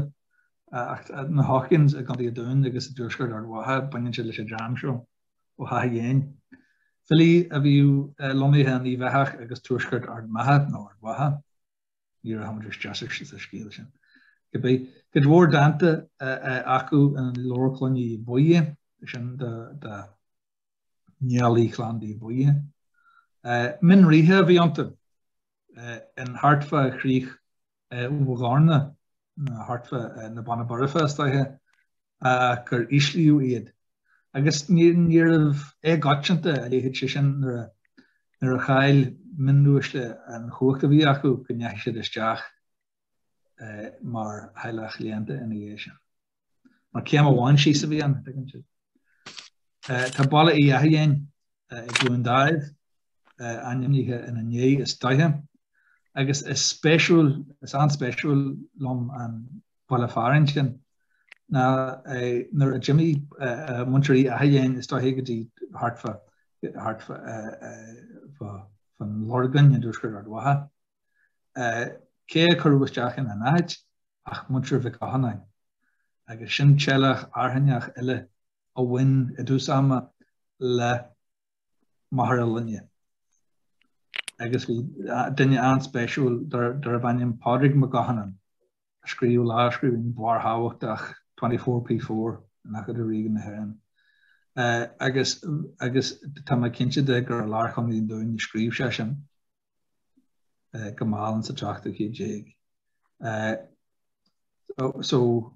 ach na Haughians i gContae an Dúin agus i dtuaisceart Ard Mhacha, baineann siad leis an dream seo. Ó hEachaidhéin, filí a bhíodh lonnaithe in Uíbh Eathach agus tuaisceart Ard Mhacha, nó Ard Mhacha, ní rachaidh muid isteach sa scéal sin, cibé, cuid mhór dánta acu in Leabhar Cloinne Aodha Buidhe, sin do Niallaigh Chlann Aodha Buidhe. Mionríthe a bhí iontu, in thart fá chrích Mhughdhorna, thart fá na Beanna Boirche is dóiche, ach gur íslíodh iad. Agus níorbh éagcoitianta a leithéid, is é sin, nuair a chaill mionuaisle an chumhacht a bhí acu go ndeachaigh siad isteach mar theaghlach léannta ina dhiaidh sin. Mar céim amháin síos a bhí ann, an dtuigeann sibh. Tá Baile Uí Eachaidhéin i gCluain Daimh, ainmnithe ina ndiaidh, is dóiche, agus is spéisiúil, is an-spéisiúil liom an baile fearainn sin. Nó nuair a d'imigh muintir Uí Eachaidhéin, is dóiche, go dtí thart fá, thart fá, fá, fá an Lorgain i dtuaisceart Ard Mhacha, Cé a cuireadh isteach ina n-áit ach muintir Mhic Oghannáin, agus sin teaghlach airchinneach eile a bhain i dtús ama le Machaire Lainne. Agus bhí duine an-spéisiúil darb ainm Pádraig Mac Oghannáin a scríobh lámhscríbhinn bharrthábhachtach 24P4 in Acadamh Ríoga na hÉireann. Agus tá mé cinnte de gur i lár Chontae an Dúin a scríobh sé sin. go mall sa tseachtú céad déag. So,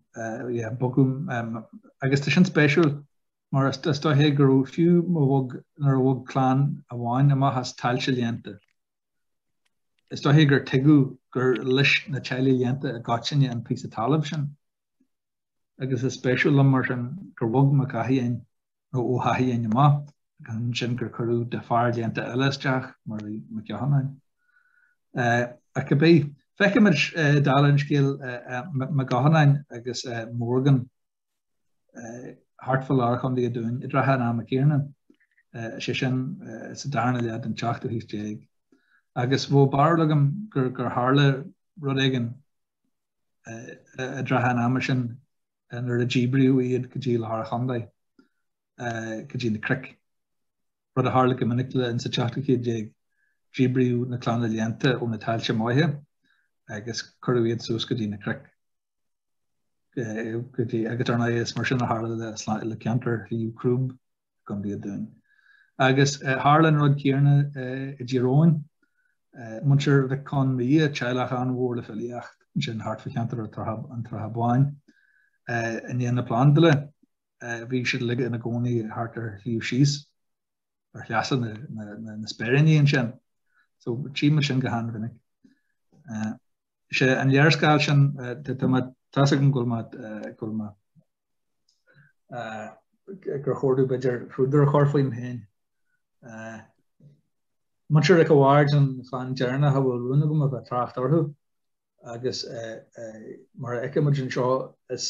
yeah, bogadh, agus tá sin spéisiúil mar is dóiche go raibh fiú má bhog, nuair a bhog clann amháin amach as tailte léannta, is dóiche gur tuigeadh gur leis na teaghlaigh léannta i gcoitinne an píosa talaimh sin. Agus is spéisiúil liom mar sin gur bhog Mac Eachaidhéin. nó Ó hEachaidhéin amach, agus ansin gur cuireadh de fear léannta eile isteach, mar a bhí Mac Oghannáin. Ach cibé, feicimid, dála an scéil, Mac Oghannáin agus Morgan thart fá lár Chontae an Dúin i dtrátha an ama céanna, is é sin, sa darna leath den tseachtú haois déag, agus bheadh barúil agam gur tharla rud éigin i dtrátha an ama sin, nuair a díbríodh iad go dtí lár an chontae, go dtí na cnoic, rud a tharla go minic leo insa tseachtú céad déag. Díbríodh na clanna léannta ó na tailte maithe agus cuireadh iad suas go dtí na cnoic. Agus ar ndóigh is mar sin a tharla le ceantar Shliabh Crúb. gContae an Dúin. Agus tharla an rud céanna i dTír Eoghain. Muintir Mhic Con Midhe, teaghlach an-mhór le filíocht ansin thart fá cheantar an tSratha Báin, i ndiaidh na Plandála, bhí siad uilig ina gcónaí thart ar Shliabh Síos, ar shleasa na Speiríní ansin. So, tchífeadh muid sin go han-mhinic. Seo an léarscáil sin, tá's agam go bhfuil mo, gur chóir dúinn b'fhéidir púdar a chur faoim féin. Muintir Mhic a' Bhaird, an chlann deireanach a bhfuil rún agam a bheith ag trácht orthu agus mar a fheicfeas muid anseo is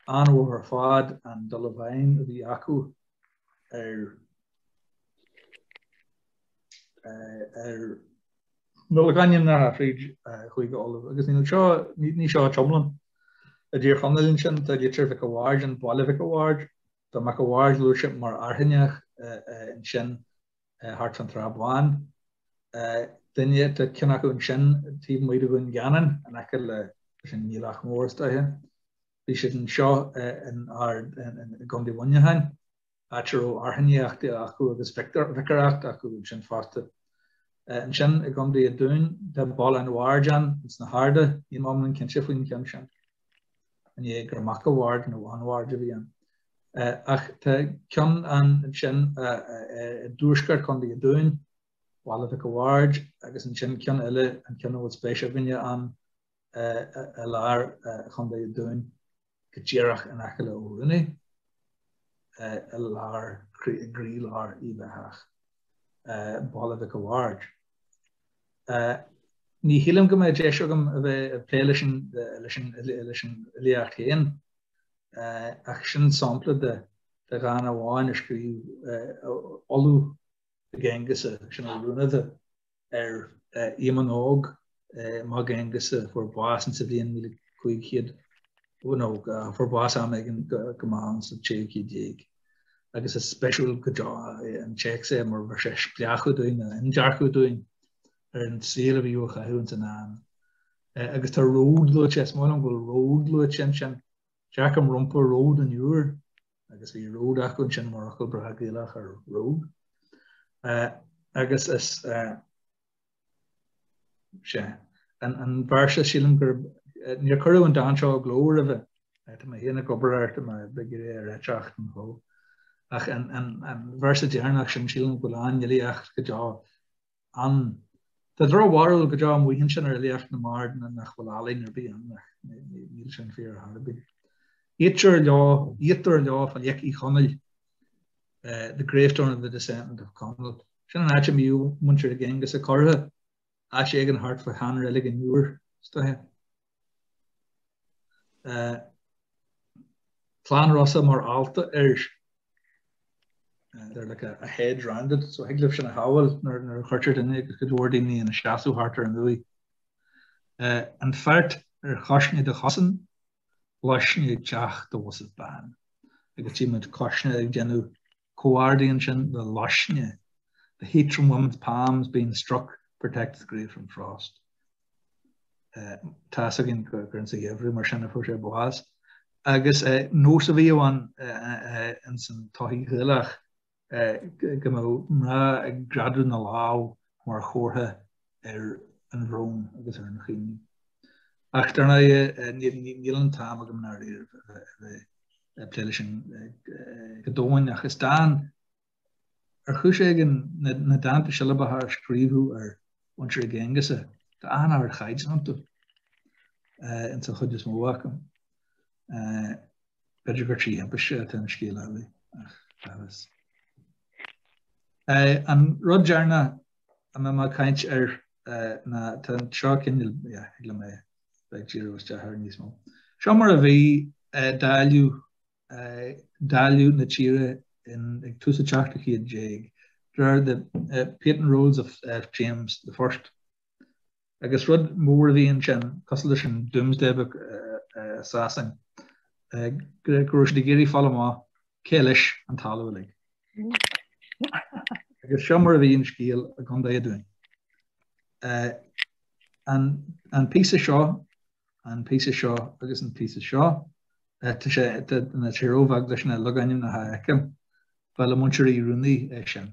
an-mhór ar fad an dul i bhfeidhm a bhí acu ar na logainmneacha fríd Chúige Uladh agus níl seo, ní seo an t-iomlán. I dTír Chonaill ansin tá Litir Mhic a' Bhaird, an Baile Mhic a' Bhaird. Tá Mac a' Bhaird luaite mar airchinneach ansin thart fán tSrath Bán. Duine, tá ceann acu ansin taobh amuigh de Dhún Geanainn in aice le, sin Niallach Mór is dóiche. Bhí siad anseo in, i gCondae Mhuineacháin. áit a raibh airchinneacht acu agus viocáireacht acu ansin fosta. Ansin i gContae an Dúin, tá Baile an Bhaird ann ins na hArda, níl mé iomlán cinnte faoin cheann sin, an é gur Mac a Bhaird nó an Bhaird a bhí ann. Ach tá ceann ann ansin i dtuaisceart Chontae an Dúin, Baile Mhic a Bhaird, agus ansin ceann eile, an ceann a bhfuil spéis againne ann, i lár Chontae an Dúin. go díreach in aice le Ó Rúnaí, i lár gcroílár Uíbh Eachach, Baile Mhic a' Bhaird. Ní shílim go mbeadh deis agam a bheith ag plé leis an fhilíocht féin, ach sin sampla de dhán amháin a scríobh ollamh Mhig Aonghusa sin Ó Rúnaí. ar Éamonn Óg, Mag Aonghusa, a fuair bás in sa bhliain 1500, nó fuair bás am éigin go maith in sa 16ú céad, agus is speisiúil go deo an téacs é mar bheir sé spleáchadh dúinn, indearcadh dúinn, ar an saol a bhí á chaitheamh ins an am. Agus tá ród luaite, is maith liom go bhfuil ród luaite ansin, dearcaim rompu ród an Iúir, agus bhí ród acu, ansin mar fhocal breá Gaelach ar road. Agus is é an véarsa, sílim gur, níor cuireadh an dán seo i gcló roimhe, tá mé féin ag obair ar, tá mé ag iarraidh a réiteach don chló, ach an véarsa deireanach sin, sílim go bhfuil an-fhilíocht go deo, ann. Tá drochbharúil go deo amuigh ansin ar fhilíocht na mbard ná nach bhfuil ealaín ar bith ann ach níl sin fíor ar chor ar bith. Iattear leo, iattar leo fa Liach Uí Chonaill, the gravestone of the descendant of Conall. Sin an áit a mbíodh muintir Mhig Aonghusa curtha, áit éigin thart fá shean-reilig an Iúir, is dócha. Clann Rosa mar fhálta they're like a a hedge round it so thig libh sin a shamhail nuair nuair a chuirtear duine agus cuid mhór daoine ina seasamh thart ar an uaigh. Eh, an feart ar chuisne do chosain, luisne ag teacht do bhosaibh ban. Agus tí muid cuisne ag déanamh comhardaidh ansin le luisne, The heat from women's palms being struck protects the grave from frost. Tá a fhios againn gur insa gheimhreadh, mar sin a fuair sé bás. Agus nós a bhí ann ins an tsochaí Ghaelach go mbeadh mná ag greadadh na lámh mar chomhartha ar an bhrón agus ar an chaoineadh. Ach dar ndóigh, níl an t-am agam i ndáiríre a bheith ag plé leis sin go domhain ach is dán ar chúis éigin na dánta siollabacha a scríobhadh ar mhuintir Mhig Aonghusa. Tá an-ardchaighdeán iontu, ins an chuid is mó acu. B'fhéidir gur trí thimpiste atá an scéal uilig ach bheadh fhios. An rud deireanach a mbeidh mé ag caint air ná, tá seo cineál, yeah, thig liom a bheith ag díriú isteach air níos mó. Seo mar a bhí dáileadh, dáileadh na tíre in, ag tús an tseachtú céad déag, de réir the patent rolls of James the First. Agus rud mór a bhí ansin cosúil leis an Doomsday Book i Sasain go raibh siad ag iarraidh fáil amach cé leis an talamh uilig. Agus seo mar a bhí an scéal i gContae an Dúin. An píosa seo, an píosa seo agus an píosa seo, tá sé, tá sé róbheag leis na logainmneacha a fheiceáil. Ba le Muintir Uí Ruanaí é sin.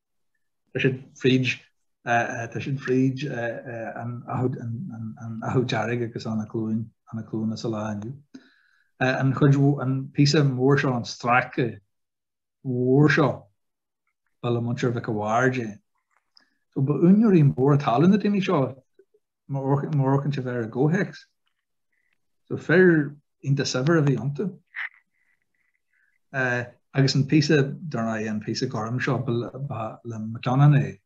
Tá siad fríd tá siad fríd an Achadh Dearg agus Eanach Cluana Eanach Cluana sa lá inniu. An chuid an píosa mór seo an stráice mór seo ba le Muintir Mhic a' Bhaird é. So ba úinéirí móra talún na daoine seo má amharcann tú air i gcomhthéacs. So fir iontach saibhir a bhí iontu. Eh, agus an píosa, dár ndóigh, an píosa gorm seo ba le Mac Oghannáin é,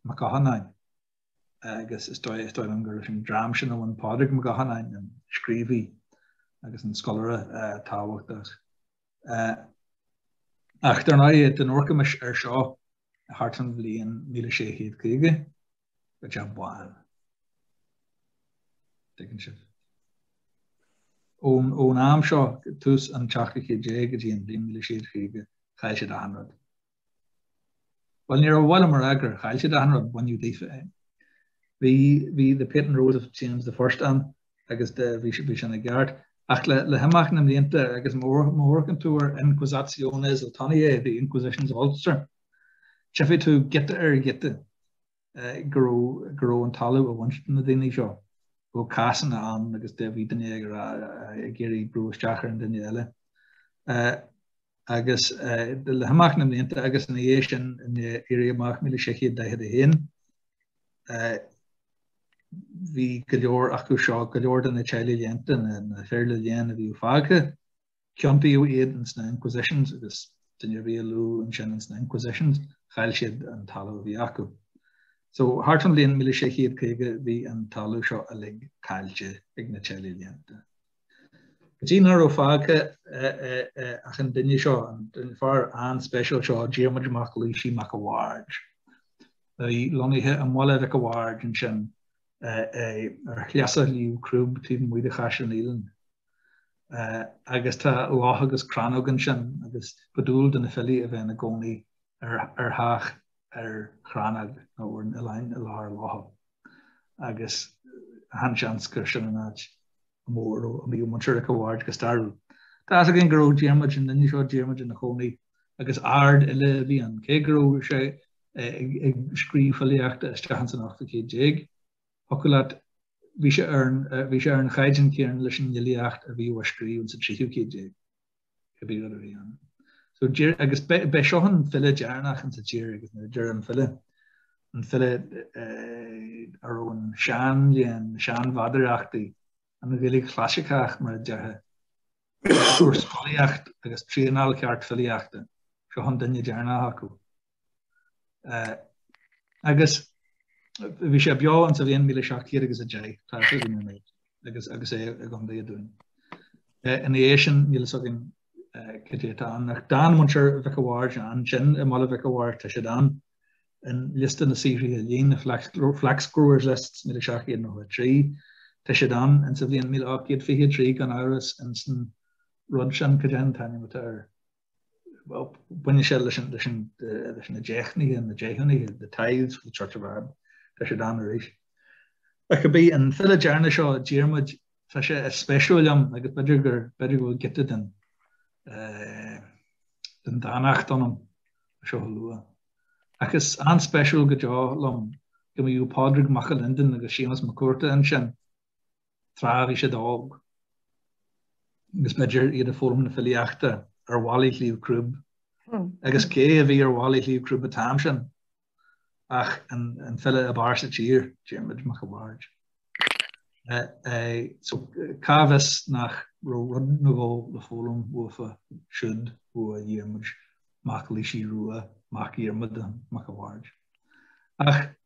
Mac Oghannáin, agus is dóigh, is dóigh liom gur leis an dream sin a bhain Pádraig Mac Oghannáin, an scríobhaí agus an scoláire tábhachtach. Eh, ach dár ndóigh, dá n-amharcaimis air seo thart fán bhliain 1650, go Jack Bán. Tuigeann sibh? Ón am seo, tús an tseachtú céad déag go dtí an bhliain míle sé chéad caoga chaill siad achan rud. Bhuel, níorbh amhlaidh ar fad gur chaill siad achan rud baineadh díofa é. Bhí the Patent Rolls of James the First ann agus bhí sin i gceart ach le himeacht na mblianta agus má amharcann tú ar Inquisitiones Ultoniae, the Inquisitions of Ulster, Tchifidh tú, giota ar ghiota, go raibh, go raibh an talamh á bhaint de na daoine seo, go raibh cásanna ann agus de bhí duine ag rá, ag iarraidh brú isteach ar an duine eile. Agus le himeacht na mblianta agus ina dhiaidh sin, in Éirí Amach 1641, bhí go leor acu seo, go leor de na teaghlaigh léannta, na fir le léann a bhí fágtha, Ciontaíodh iad ins na Inquisitions agus duine ar bith a luadh ansin ins na Inquisitions, chaill siad an talamh a bhí acu. So, thart fán bhliain míle sé chéad caoga bhí an talamh seo uilig caillte ag na teaghlaigh léannta. Go dtí nach raibh fágtha ach an duine seo, an fear an-speisial seo, Diarmuid Mac Laoisigh Mac a' Bhaird, a bhí lonnaithe i mBaile Mhic a' Bhaird ansin ar shleasa Shliabh Crúb taobh amuigh de Chaisleán Uidhilín. agus tá loch agus crannóg ansin agus ba dual do na filí a bheith ina gcónaí ar theach ar chrannóg nó ar oileán i lár locha agus an-seans gur sin an áit mar a mbíodh muintir Mhic a' Bhaird go stairiúil. Tá a fhios againn go raibh Diarmuid an duine seo, Diarmuid ina chónaí agus ardfhile a bhí ann, cé go raibh sé ag scríobh filíochta isteach ins an ochtú céad déag, thiocfadh leat, bhí sé ar an, bhí sé ar an chaighdeán céanna leis an fhilíocht a bhíodh á scríobh ins an tríú céad déag, cibé rud a bhí ann. So deir, agus b'é, b'é seo an file deireanach ins an tír agus nuair a deirim file, an file a raibh an seanléann, na seanmheadarachtaí, an Ghaeilge Chlasaiceach mar a déarfá, fuair scolaíocht agus traenáil cheart filíochta, seo an duine deireanach acu. Agus bhí sé beo in sa bhliain 1710 agus é i gContae Dúin. Ina dhiaidh sin níl fhios againn cad é atá ann ach d'fhan muintir Mhic a' Bhaird ansin i mBaile Mhic a' Bhaird, tá siad ann in liosta na saothraithe lín, Flaxgrowers' List 1793. Tá siad ann in sa bhliain 1823 gan amhras ins an rud sin, cad é an t-ainm atá air? baineann sé leis na deichnithe, na deachúna, the tithes for the Church of Ireland, tá siad ann arís. Ach cibé, an file deireanach seo, Diarmuid, tá sé an-speisiúil liom agus b'fhéidir gur, b'fhéidir go bhfuil giota den den dánacht ionam seo a lua. Ach is an-speisiúil go deo liom go mbíodh Pádraig Mac a Liondain agus Séamus Mac Cuarta ansin. tráth a bhí siad óg, agus b'fhéidir iad ag foghlaim na filíochta ar bhallaí Shliabh Crúb, agus cé a bhí ar bhallaí Shliabh Crúb an t-am sin ach an file ab fhearr sa tír, Diarmuid Mac a' Bhaird. So, cá bhfios nach raibh rud nó dhó le foghlaim uathu siúd, uaidh Dhiarmuid Mac Laoisigh Rua, mac Dhiarmuda Mac a' Bhaird. Ach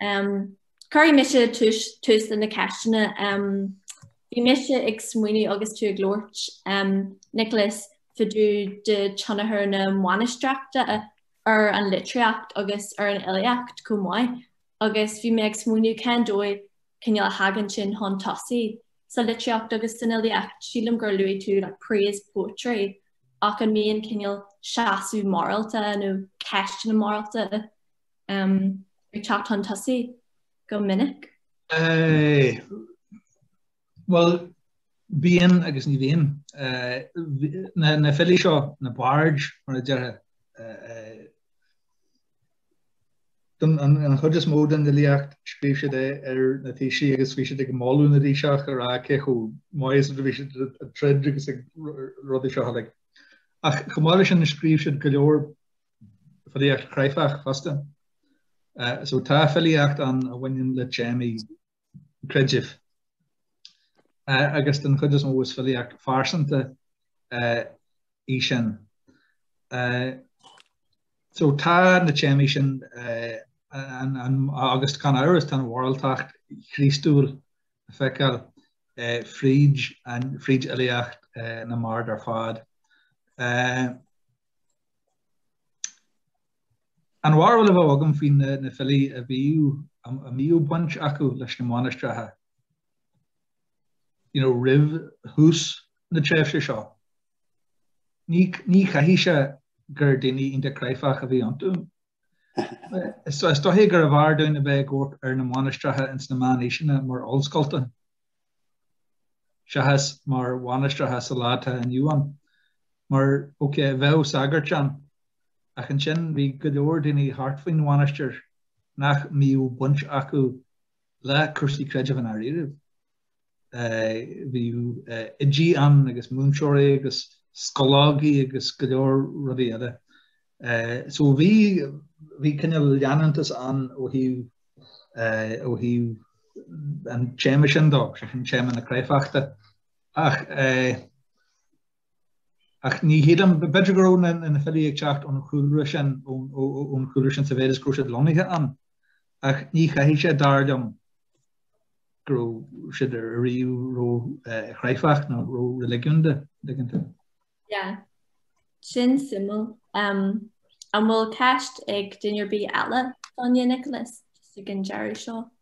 Um, Cuirfidh mise tús, tús leis na ceisteanna. Um, bhí mise ag smaoineamh agus tú ag labhairt, um, Nicholas, fá dtaobh de tionchar na mainistreachta ar an litríocht agus ar an fhilíocht chomh maith agus bhí mé ag smaoineamh cén dóigh cineál a thagann sin chun tosaigh sa litríocht agus san fhilíocht. Sílim gur luaigh tú like, praise poetry ach an mbíonn cineál seasamh morálta nó ceisteanna morálta ag teacht chun tosaigh go minic? Bhuel, bíonn agus ní bhíonn. Na filí seo, na bards mar a déarfá, an chuid is mó den fhilíocht scríobh siad í ar na taoisigh agus bhí siad ag moladh na dtaoiseach a rá cé chomh maith is a bhí siad ag troid agus ag rudaí seo uilig. Ach chomh maith leis sin scríobh siad go leor filíocht chráifeach fosta. So tá filíocht ann a bhaineann le téamaí creidimh. Agus den chuid is mó is filíocht phearsanta í sin. So tá na téamaí sin agus gan amhras tá an mhoráltacht Chríostúil le feiceáil fríd fhilíocht na mbard ar fad. An bharúil a bheadh agam faoi na filí a bhíodh, a mbíodh baint acu leis na mainistreacha you know roimh thús na tréimhse seo, ní, caithfidh sé gur daoine iontach cráifeach a bhí iontu. Is dóiche gurbh fhearr dúinn a bheith ag amharc ar na mainistreacha ins na meánaoiseanna mar ollscoileanna seachas mar mhainistreacha sa lá atá inniu ann. Mar, okay, bheadh sagairt ann, ach ansin bhí go leor daoine thart faoin mhainistir nach mbíodh baint acu le cúrsaí creidimh i ndáiríribh. bhí oidí ann agus múinteoirí agus scoláigí agus go leor rudaí eile. So bhí, bhí cineál leanúntas ann ó thaobh, ó thaobh an téama sin de, sé sin téama na cráifeachta. Ach, Ach ní shílim, b'fhéidir go raibh na filí ag teacht ón chúlra sin, ón chúlra sin sa mhéad is go raibh siad lonnaithe ann, ach ní chaithfidh sé, dar liom, go raibh siad ariamh ró-chráifeach nó ró-reiligiúnda, an dtuigeann tú? Yeah. Sin suimiúil. Um, an bhfuil ceist ag duine ar bith eile, do Nioclás, ag an deireadh seo?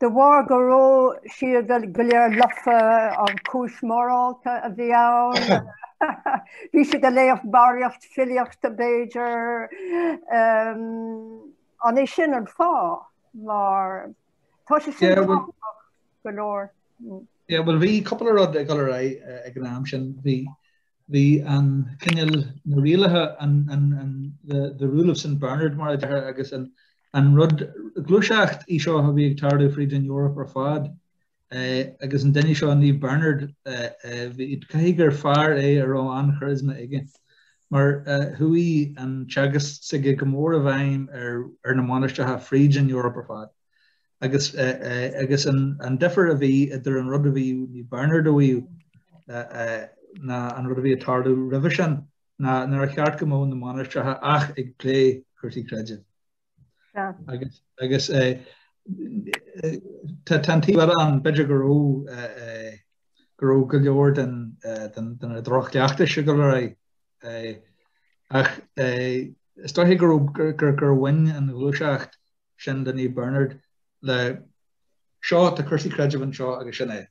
De bharr go raibh siad go léir lofa, an chúis mhorálta a bhí ann, bhí siad ag léamh barraíocht filíochta, b'fhéidir. An é sin an fáth? Mar tá sé sin go leor. Yeah, well bhí cúpla rud ag dul ar aghaidh ag an am sin. Bhí Bhí an cineál, na rialacha, the rule of St Bernard mar a deir agus, an rud, gluaiseacht í seo a bhí ag tarlú fríd an Eoraip ar fad agus an duine seo, Naomh Bernard, caithfidh gur fear é a raibh an-charisma aige mar chuaigh an teagasc s'aige go mór i bhfeidhm ar na mainistreacha fríd an Eoraip ar fad. agus an difear a bhí idir an rud a bhí Naomh Bernard a mhaíomh ná an rud a bhí ag tarlú roimhe sin ná nár cheart go mbeadh na mainistreacha ach ag plé cúrsaí creidimh. Agus tá an taobh eile ann, b'fhéidir go raibh go raibh go leor de na drochchleachtais ag dul ar aghaidh ach is dóiche go raibh gur bhain an ghluaiseacht sin de Naomh Bernard le Seo tá cúrsaí creidimh anseo agus sin é.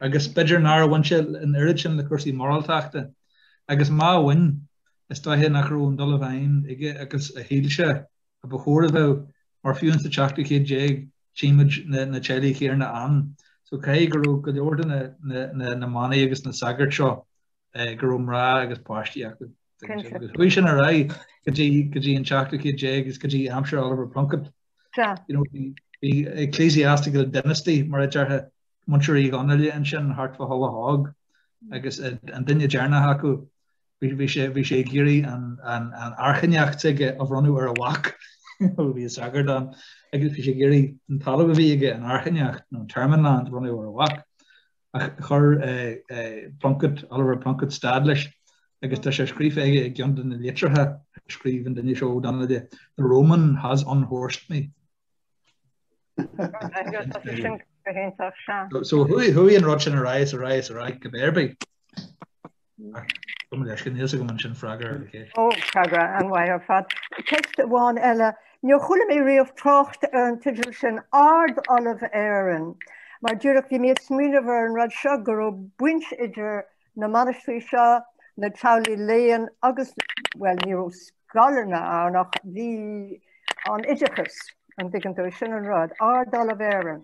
Agus b'fhéidir nár bhain sé an oiread sin le cúrsaí moráltachta, agus má bhain, is dóiche nach raibh an dul i bhfeidhm aige agus a shíl sé a ba chóir a bheith, mar fiú ins an tseachtú céad déag tchí muid na teaghlaigh chéanna ann so caithfidh go raibh go leor de na manaigh agus na sagairt seo go raibh mná agus páistí acu. Chuaigh sin ar aghaidh go dtí an tseachtú céad déag agus go dtí aimsir Oliver Plunkett. Bhí ecclesiastical dynasty mar a déarfá Muintir Uí Dhonnaíle ansin thart fá Thulach Óg agus an duine deireanach acu bhí sé bhí sé ag iarraidh an airchinneacht aige a bhronnadh ar a mhac bhí sagart ann agus bhí sé ag iarraidh an talamh a bhí aige an airchinneacht nó an termon land a bhronnadh ar a mhac. Ach chuir Plunkett, Oliver Plunkett stad leis agus tá sé scríofa aige i gceann de na litreacha a scríobh an duine seo, Ó Donnaíle, 'The Roman has unhorsed me. So chuaigh an rud sin ar aghaidh is ar aghaidh is ar aghaidh cibé ar bith. Níor chuala mé riamh trácht ar an teideal sin 'Ard Ollamh Éireann' mar díreach bhí mé ag smaoineamh ar an rud seo go raibh baint idir na mainistrí seo, na teaghlaigh léinn agus, bhuel, ní raibh scoileanna ann ach bhí an oideachas, an dtuigeann tú, sin an rud, Ard Ollamh Éireann.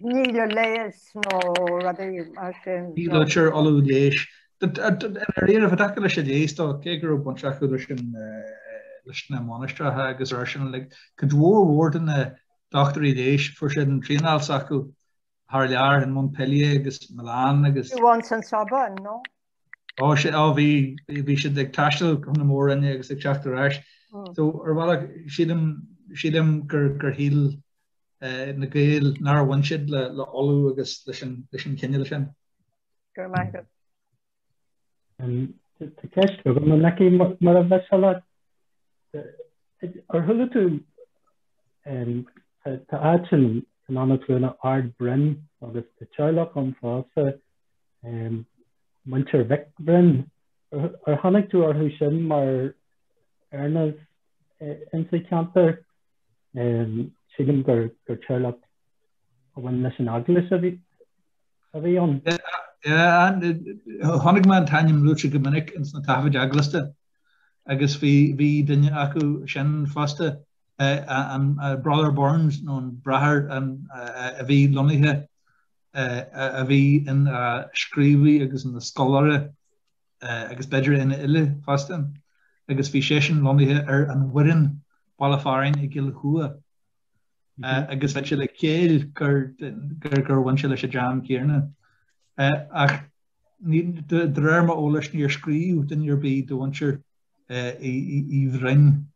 Ní le leigheas nó rudaí mar sin. Ní luaitear ollamh leighis. Ar aon nós, i dtaca leis an leigheas de, cé go raibh baint acu leis na mainistreacha agus é sin uilig, cuid mhór mhór de na dochtúirí leighis, fuair siad an traenáil s'acu thar lear, in Montpellier agus Milan agus. Fiú amháin sa Sorbonne, nó? Ó sea, á bhí, bhí siad ag taisteal chun na mór-roinne agus ag teacht ar ais. So, ar bhealach, sílim, sílim gur, gur shíl na Gaeil nár bhain siad le, le ollamh agus leis an, leis an chineál sin. Go raibh maith agat. Tá ceist agam, an fheicfidh mar a bheas a leat? Ar chuala tú, tá áit in Eanach Cluana, Ard Broin, agus tá teaghlach ann fosta, Um, Muintir Mhic Bhroin, ar tháinig tú orthu sin mar erenaghs eh, insa ceantar? Um, Sílim gur, gur teaghlach a bhain leis an eaglais a bhí, a bhí ann. Chonaic mé an t-ainm luaite go minic ins na taifid eaglasta agus bhí bhí duine acu sin fosta eh, an Brother Burns nó an Bráthair a bhí lonnaithe a bhí ina scríobhaí agus ina scoláire agus b'fhéidir ina fhile fosta, agus bhí seisean lonnaithe ar an Bhoireann baile fearainn i gCill Chua agus bheadh sé le céill gur bhain sé leis an dream céanna. Ach de réir m'eolais níor scríobh duine ar bith de Mhuintir Uí Bhroin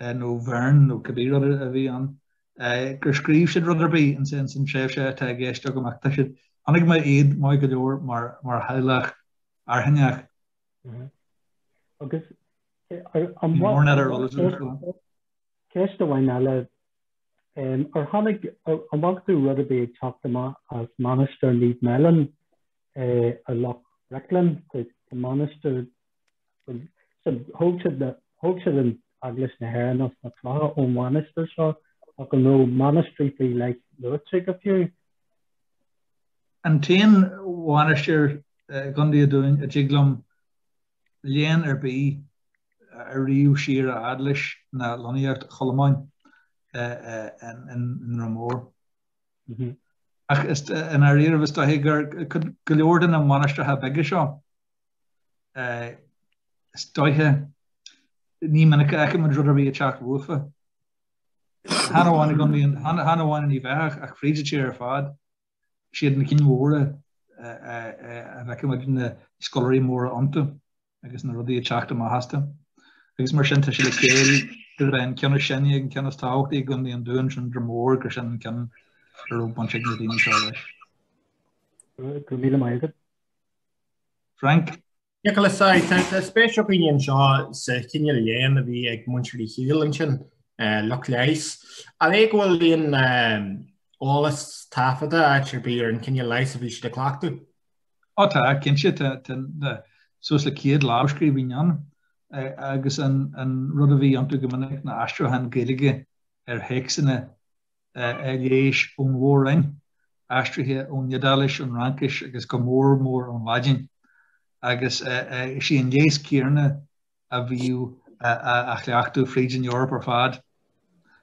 nó Bheirn nó cibé rud a bhí ann. gur scríobh siad rud ar bith ansin san tréimhse atá i gceist agam ach tá siad, aithním iad maith go leor mar theaghlach airchinneach. Agus an bhfaca, ceist amháin eile, ar tháinig, an bhfaca tú rud ar bith ag teacht amach as Mainistir Naomh Meallán i Loch Bricleann, Mainistir Thóg siad an Eaglais na hÉireann as na clocha ón mhainistir seo, ach an raibh mainistrí faoi leith luaite go fiú? An t-aon mhainistir i gContae an Dúin a dtig liom léann ar bith a ríomh siar a fhad leis ná lonnaíocht Cholmáin i nDroim Mór. Ach i ndáiríribh, is dóiche gur go leor de na mainistreacha beaga seo, Is dóiche ní minic a fheicimid rud ar bith ag teacht uafa. Chan amháin i gContae an, chan amháin in Uíbh Eachach, ach fríd an tír ar fad, is iad na cinn mhóra a bhfeicimid na scoláirí móra iontu agus na rudaí ag teacht amach astu. Agus mar sin tá sé le céill gurb é an ceann is sine agus an ceann is tábhachtaí i gContae an Dúin, sin Droim Mór, gur sin an ceann a raibh baint ag na daoine seo leis. Go raibh míle maith agat. Frank. Nioclás, Aye, tá spéis againn anseo sa chineál léinn a bhí ag muintir Uí Shiail ansin, lucht leighis. An é go bhfuil aon eolas taifeadta áit ar bith ar an chineál leighis a bhí siad ag cleachtadh? Ó tá, cinnte, tá suas le céad lámhscríbhinn ann agus an rud a bhí iontu go minic ná aistriúchán Gaeilge ar théacsanna leighis ón Mhór-roinn, aistrithe ón Iodáilis, ón Fhraincis agus go mór mór ón Laidin, agus is í an leigheas céanna a bhíodh á chleachtadh fríd an Eoraip ar fad.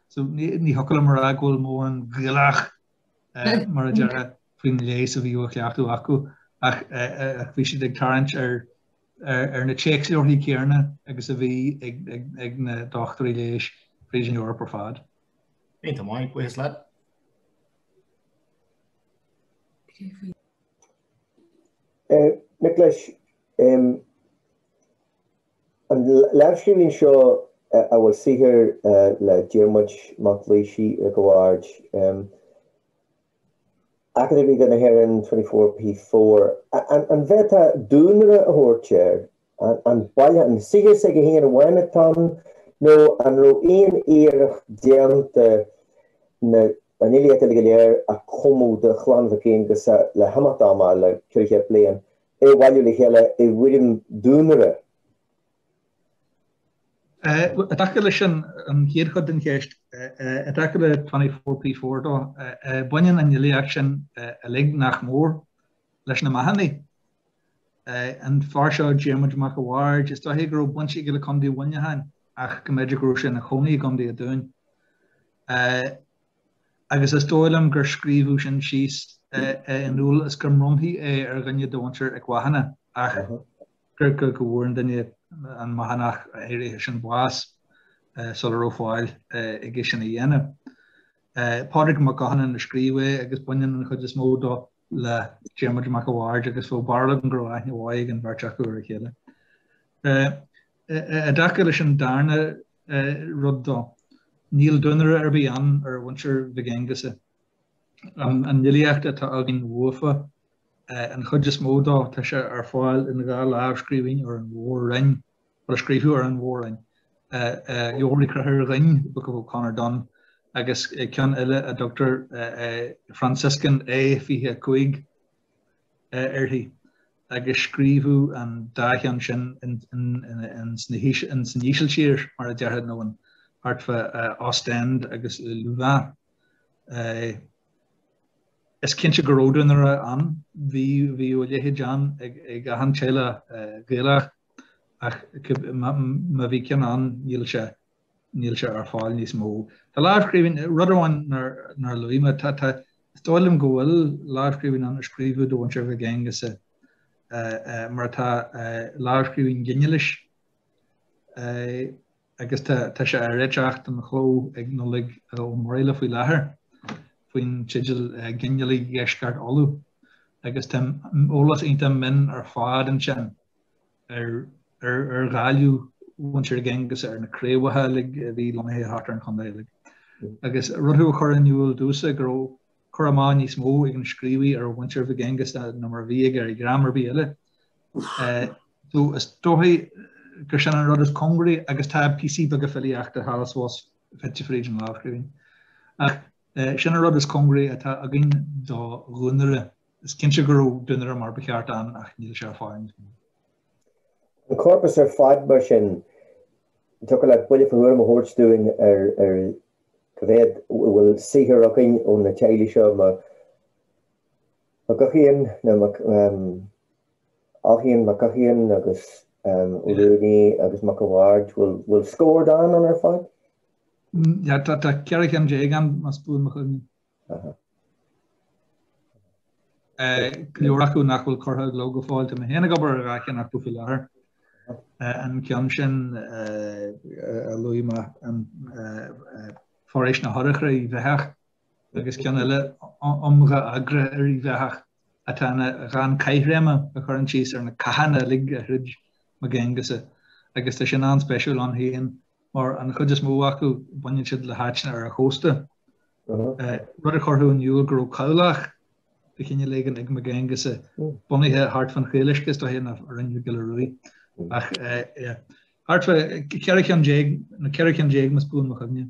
So ní thiocfadh liom a rá go bhfuil mórán Gaelach, mar a déarfá, faoin leigheas a bhíodh á chleachtadh acu, ach bhí siad ag tarraingt ar na téacsleabharthaí céanna agus a bhí ag na dochtúirí leighis fríd an Eoraip ar fad. Iontach maith, buíochas leat. Nioclás, an lámhscríbhinn seo a bhfuil saothar le Diarmuid mac Laoisigh Mhic an Bhaird, Acadamh Ríoga na hÉireann, 24P4. An bhféadfá duanaire a thabhairt air? ar baineadh an saothar s'aige féin a amháin atá ann nó an raibh aon iarracht déanta na an fhilíocht uilig go léir a chumadh do chlann Mhic Aonghusa le himeacht ama, le ceithre chéad bliain, é a bhailiú le chéile i bhfoirm duanaire? I dtaca leis an an chéad chuid den cheist, i dtaca le Twenty Four P Four dó, baineann an fhilíocht sin uilig, nach mór, leis na Mathúnaigh. An fear seo, Diarmuid Mac a' Bhaird, is dóiche go raibh baint aige le Condae Mhuineacháin ach go mb'fhéidir go raibh sé ina chónaí i gCondae a' Dúin. Agus is dóigh liom gur scríobhadh sin síos i ndúil is gur mbronnfaí é ar dhuine de mhuintir 'ic Mhathúna ach gur go go bhfuair an duine, an Mathúnach áirithe sin bás sula raibh fáil aige sin a dhéanamh. Pádraig Mac Mathúna a scríobh é agus baineann an chuid is mó dó le Diarmuid Mac a' Bhaird agus bheadh barúil agam go raibh aithne mhaith ag an bheirt acu ar a chéile. I dtaca leis an darna rud dó, níl duanaire ar bith ann ar mhuintir Mhig Aonghusa. An fhilíocht atá againn uafa, an chuid is mó dó, tá sé ar fáil in dhá lámhscríbhinn ar an Mhór-Roinn, a scríobhadh ar an Mhór-Roinn Leabhar Uí Chonchobhair Dhoinn, Book of O'Conor Don, agus ceann eile a dtugtar Franciscan A25 uirthi, agus scríobhadh an dá cheann sin ins an Ísiltír, mar a déarfá, nó thart fá Ostend agus Louvain. Is cinnte go raibh duanaire ann, bhí a leithéid ann ag achan teaghlach Gaelach, ach má bhí ceann ann níl sé ar fáil níos mó. Tá lámhscríbhinn, rud amháin nár luaigh mé, is dóigh liom go bhfuil lámhscríbhinn ann a scríobhadh do mhuintir Mhic Aonghusa, mar atá, lámhscríbhinn ghinealais. agus tá sé á réiteach don chló ag Nollaig Ó Muraíle faoi láthair faoin teideal Ginealaigh Dheisceart Uladh agus tá eolas iontach mion ar fad ansin ar ghabhlú mhuintir Mhig Aonghusa, ar na craobhacha uilig a bhí lonnaithe thart ar an chontae uilig. Agus rud a chuir in iúl domhsa go raibh cur amach níos mó ag an scríobhaí ar mhuintir Mhig Aonghusa ná mar a bhí aige ar dhream ar bith eile so is dóichí gur sin an rud is cóngaraí agus tá píosaí beaga filíochta thall is abhus fite fríd an lámhscríbhinn. Ach sin an rud is cóngaraí atá againn do dhuanaire. Is cinnte go raibh duanaire mar ba cheart ann ach níl sé ar fáil níos mó. An corpas ar fad mar sin, dtiocfadh leat buille fá thuairim a thabhairt dúinn ar cá mhéad a bhfuil saothar againn ó na teaghlaigh seo, Mag Eachaidhéin, nó Ó hEachaidhéin, Mag Eachaidhéin agus Ó Ruanaí agus Mac a' Bhaird, bhfuil scór dán ann ar fad? Yeah, tá 14 cheann ann, más buan mo chuimhne. Go leor acu nach bhfuil curtha i gcló go fóill, tá mé féin ag obair ar dhá cheann acu faoi láthair. An ceann sin a luaigh mé, Foraois na horchra Íbh Eathach, agus ceann eile Iomdha agra ar Íbh Eathach atá ina dhán caithréime a chuireann síos ar na cathanna uilig a throid Mag Aonghusa agus tá sin an-speisiúil ann féin mar an chuid is mó acu baineann siad le háiteanna ar an chósta, rud a chuirfeadh in iúl go raibh cabhlach de chineál éigin ag Mag Aonghusa, bunaithe thart fán Chaoluisce is dóiche, nó Rinn Mhic Giolla Ruaidh. Ach, thart fá ceithre cheann déag, nó ceithre cheann déag más buan mo chuimhne.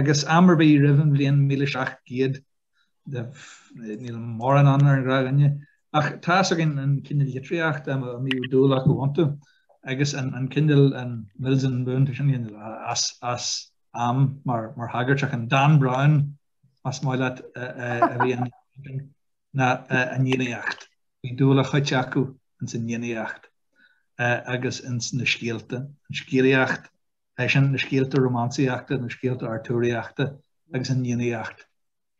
agus am ar bith roimh an bhliain míle seacht gcéad níl mórán ann ar an ghnáthdhuine, ach tá a fhios againn an cineál litríochta a mbíodh dúil acu iontu agus an cineál an Mills and Boon tá sin as am mar thagairt ach an Dan Brown más maith leat a bhí ann ná an Fhiannaíocht. Bhí dúil a chuite acu ins an Fhiannaíocht agus ins na scéalta, an scéalaíocht é sin na scéalta rómánsaíochta, na scéalta artúraíochta agus an Fhiannaíocht,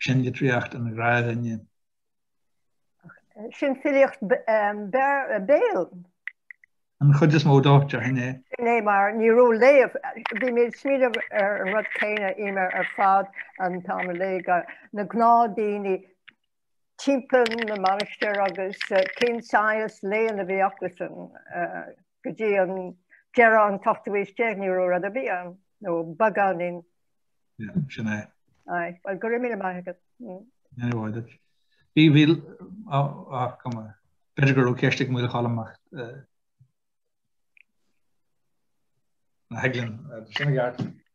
sin litríocht an ghnáthdhuine. Sin filíocht béil. An chuid is mó dó, déarfainn é. Sin é mar ní raibh léamh, bhí mé ag smaoineamh ar an rud céanna, Emer, ar fad an t-am a léigh na gnáthdhaoine timpeall na mainistir agus cén saghas léann a bhí acusan. go dtí an deireadh an t-ochtú haois déag ní raibh rud ar bith ann, nó beagáinín. Yeah, sin é. Aye, well go raibh míle maith agat. Go ndéana a mhaith duit. Bhí, bhí, á, cuma, b'fhéidir go raibh ceist ag Maoil Choilm ach na hEiglin, sin a gceart.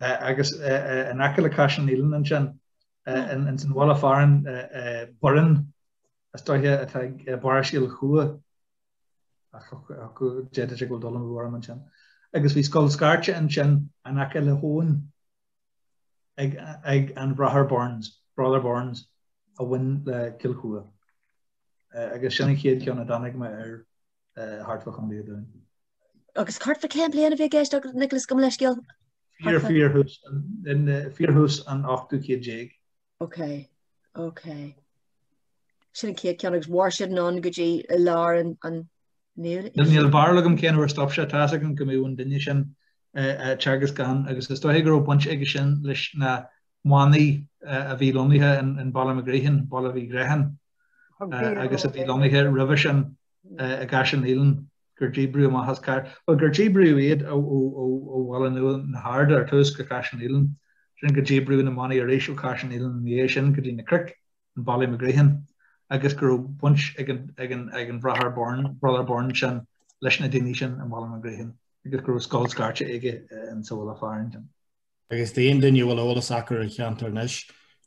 agus in aice le Caisleán Uidhilín ansin ins an bhaile fearainn Burren is dóiche atá i bparóiste Chill Chua ach d'fhéadfadh sé go bhfuil dul amú orm ansin. Agus bhí Scoil Scairte ansin in aice le habhainn ag an Bhráthar Burns, Brother Burns, a bhain le Cill Chua. Agus sin an chéad cheann a dtáinig mé air. thart fá Chontae an Dúin. Agus thart fá cén bhliain a bhí i gceist agat, Nicholas, gabh mo leithscéal? Fíor, fíorthús, fíorthús an ochtú céad déag. Ok, ok. Sin an chéad ceann agus mhair siad anonn go dtí i lár an, an Níl, níl barúil agam cén uair a stop sé, tá's agam go mbíodh an duine sin ag teagasc ann agus is dóiche go raibh baint aige sin leis na manaigh a bhí lonnaithe in Ballymagreehan, Baile Mhic Ghríocháin. agus a bhí lonnaithe roimhe sin i gCaisleán Uidhilín, gur díbríodh amach as Caire, bhuel, gur díbríodh iad ó Bhaile Nua na hArda ar tús go Caisleán Uidhilín, sin gur díbríodh na manaigh arís ó Chaisleán Uidhilín ina dhiaidh sin go dtí na cnoic, in Ballymagreehan, agus go raibh baint ag an Bhráthair Byrne, Brother Byrne, sin leis na daoine sin in Ballymagreehan agus go raibh scoil scairte aige ins an bhaile fearainn sin. Agus d'aon duine a bhfuil eolas acu ar an cheantar anois,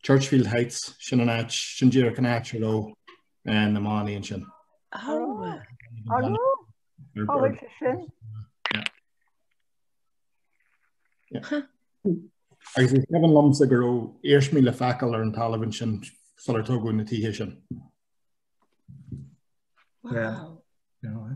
Churchfield Heights, sin an áit, sin díreach an áit a raibh na manaigh ansin. An raibh? Cá bhfuil sé sin? Agus is cuimhin liomsa go raibh iarsmaí le feiceáil ar an talamh ansin sular tógadh na tithe sin. Wow. Yeah. Yeah.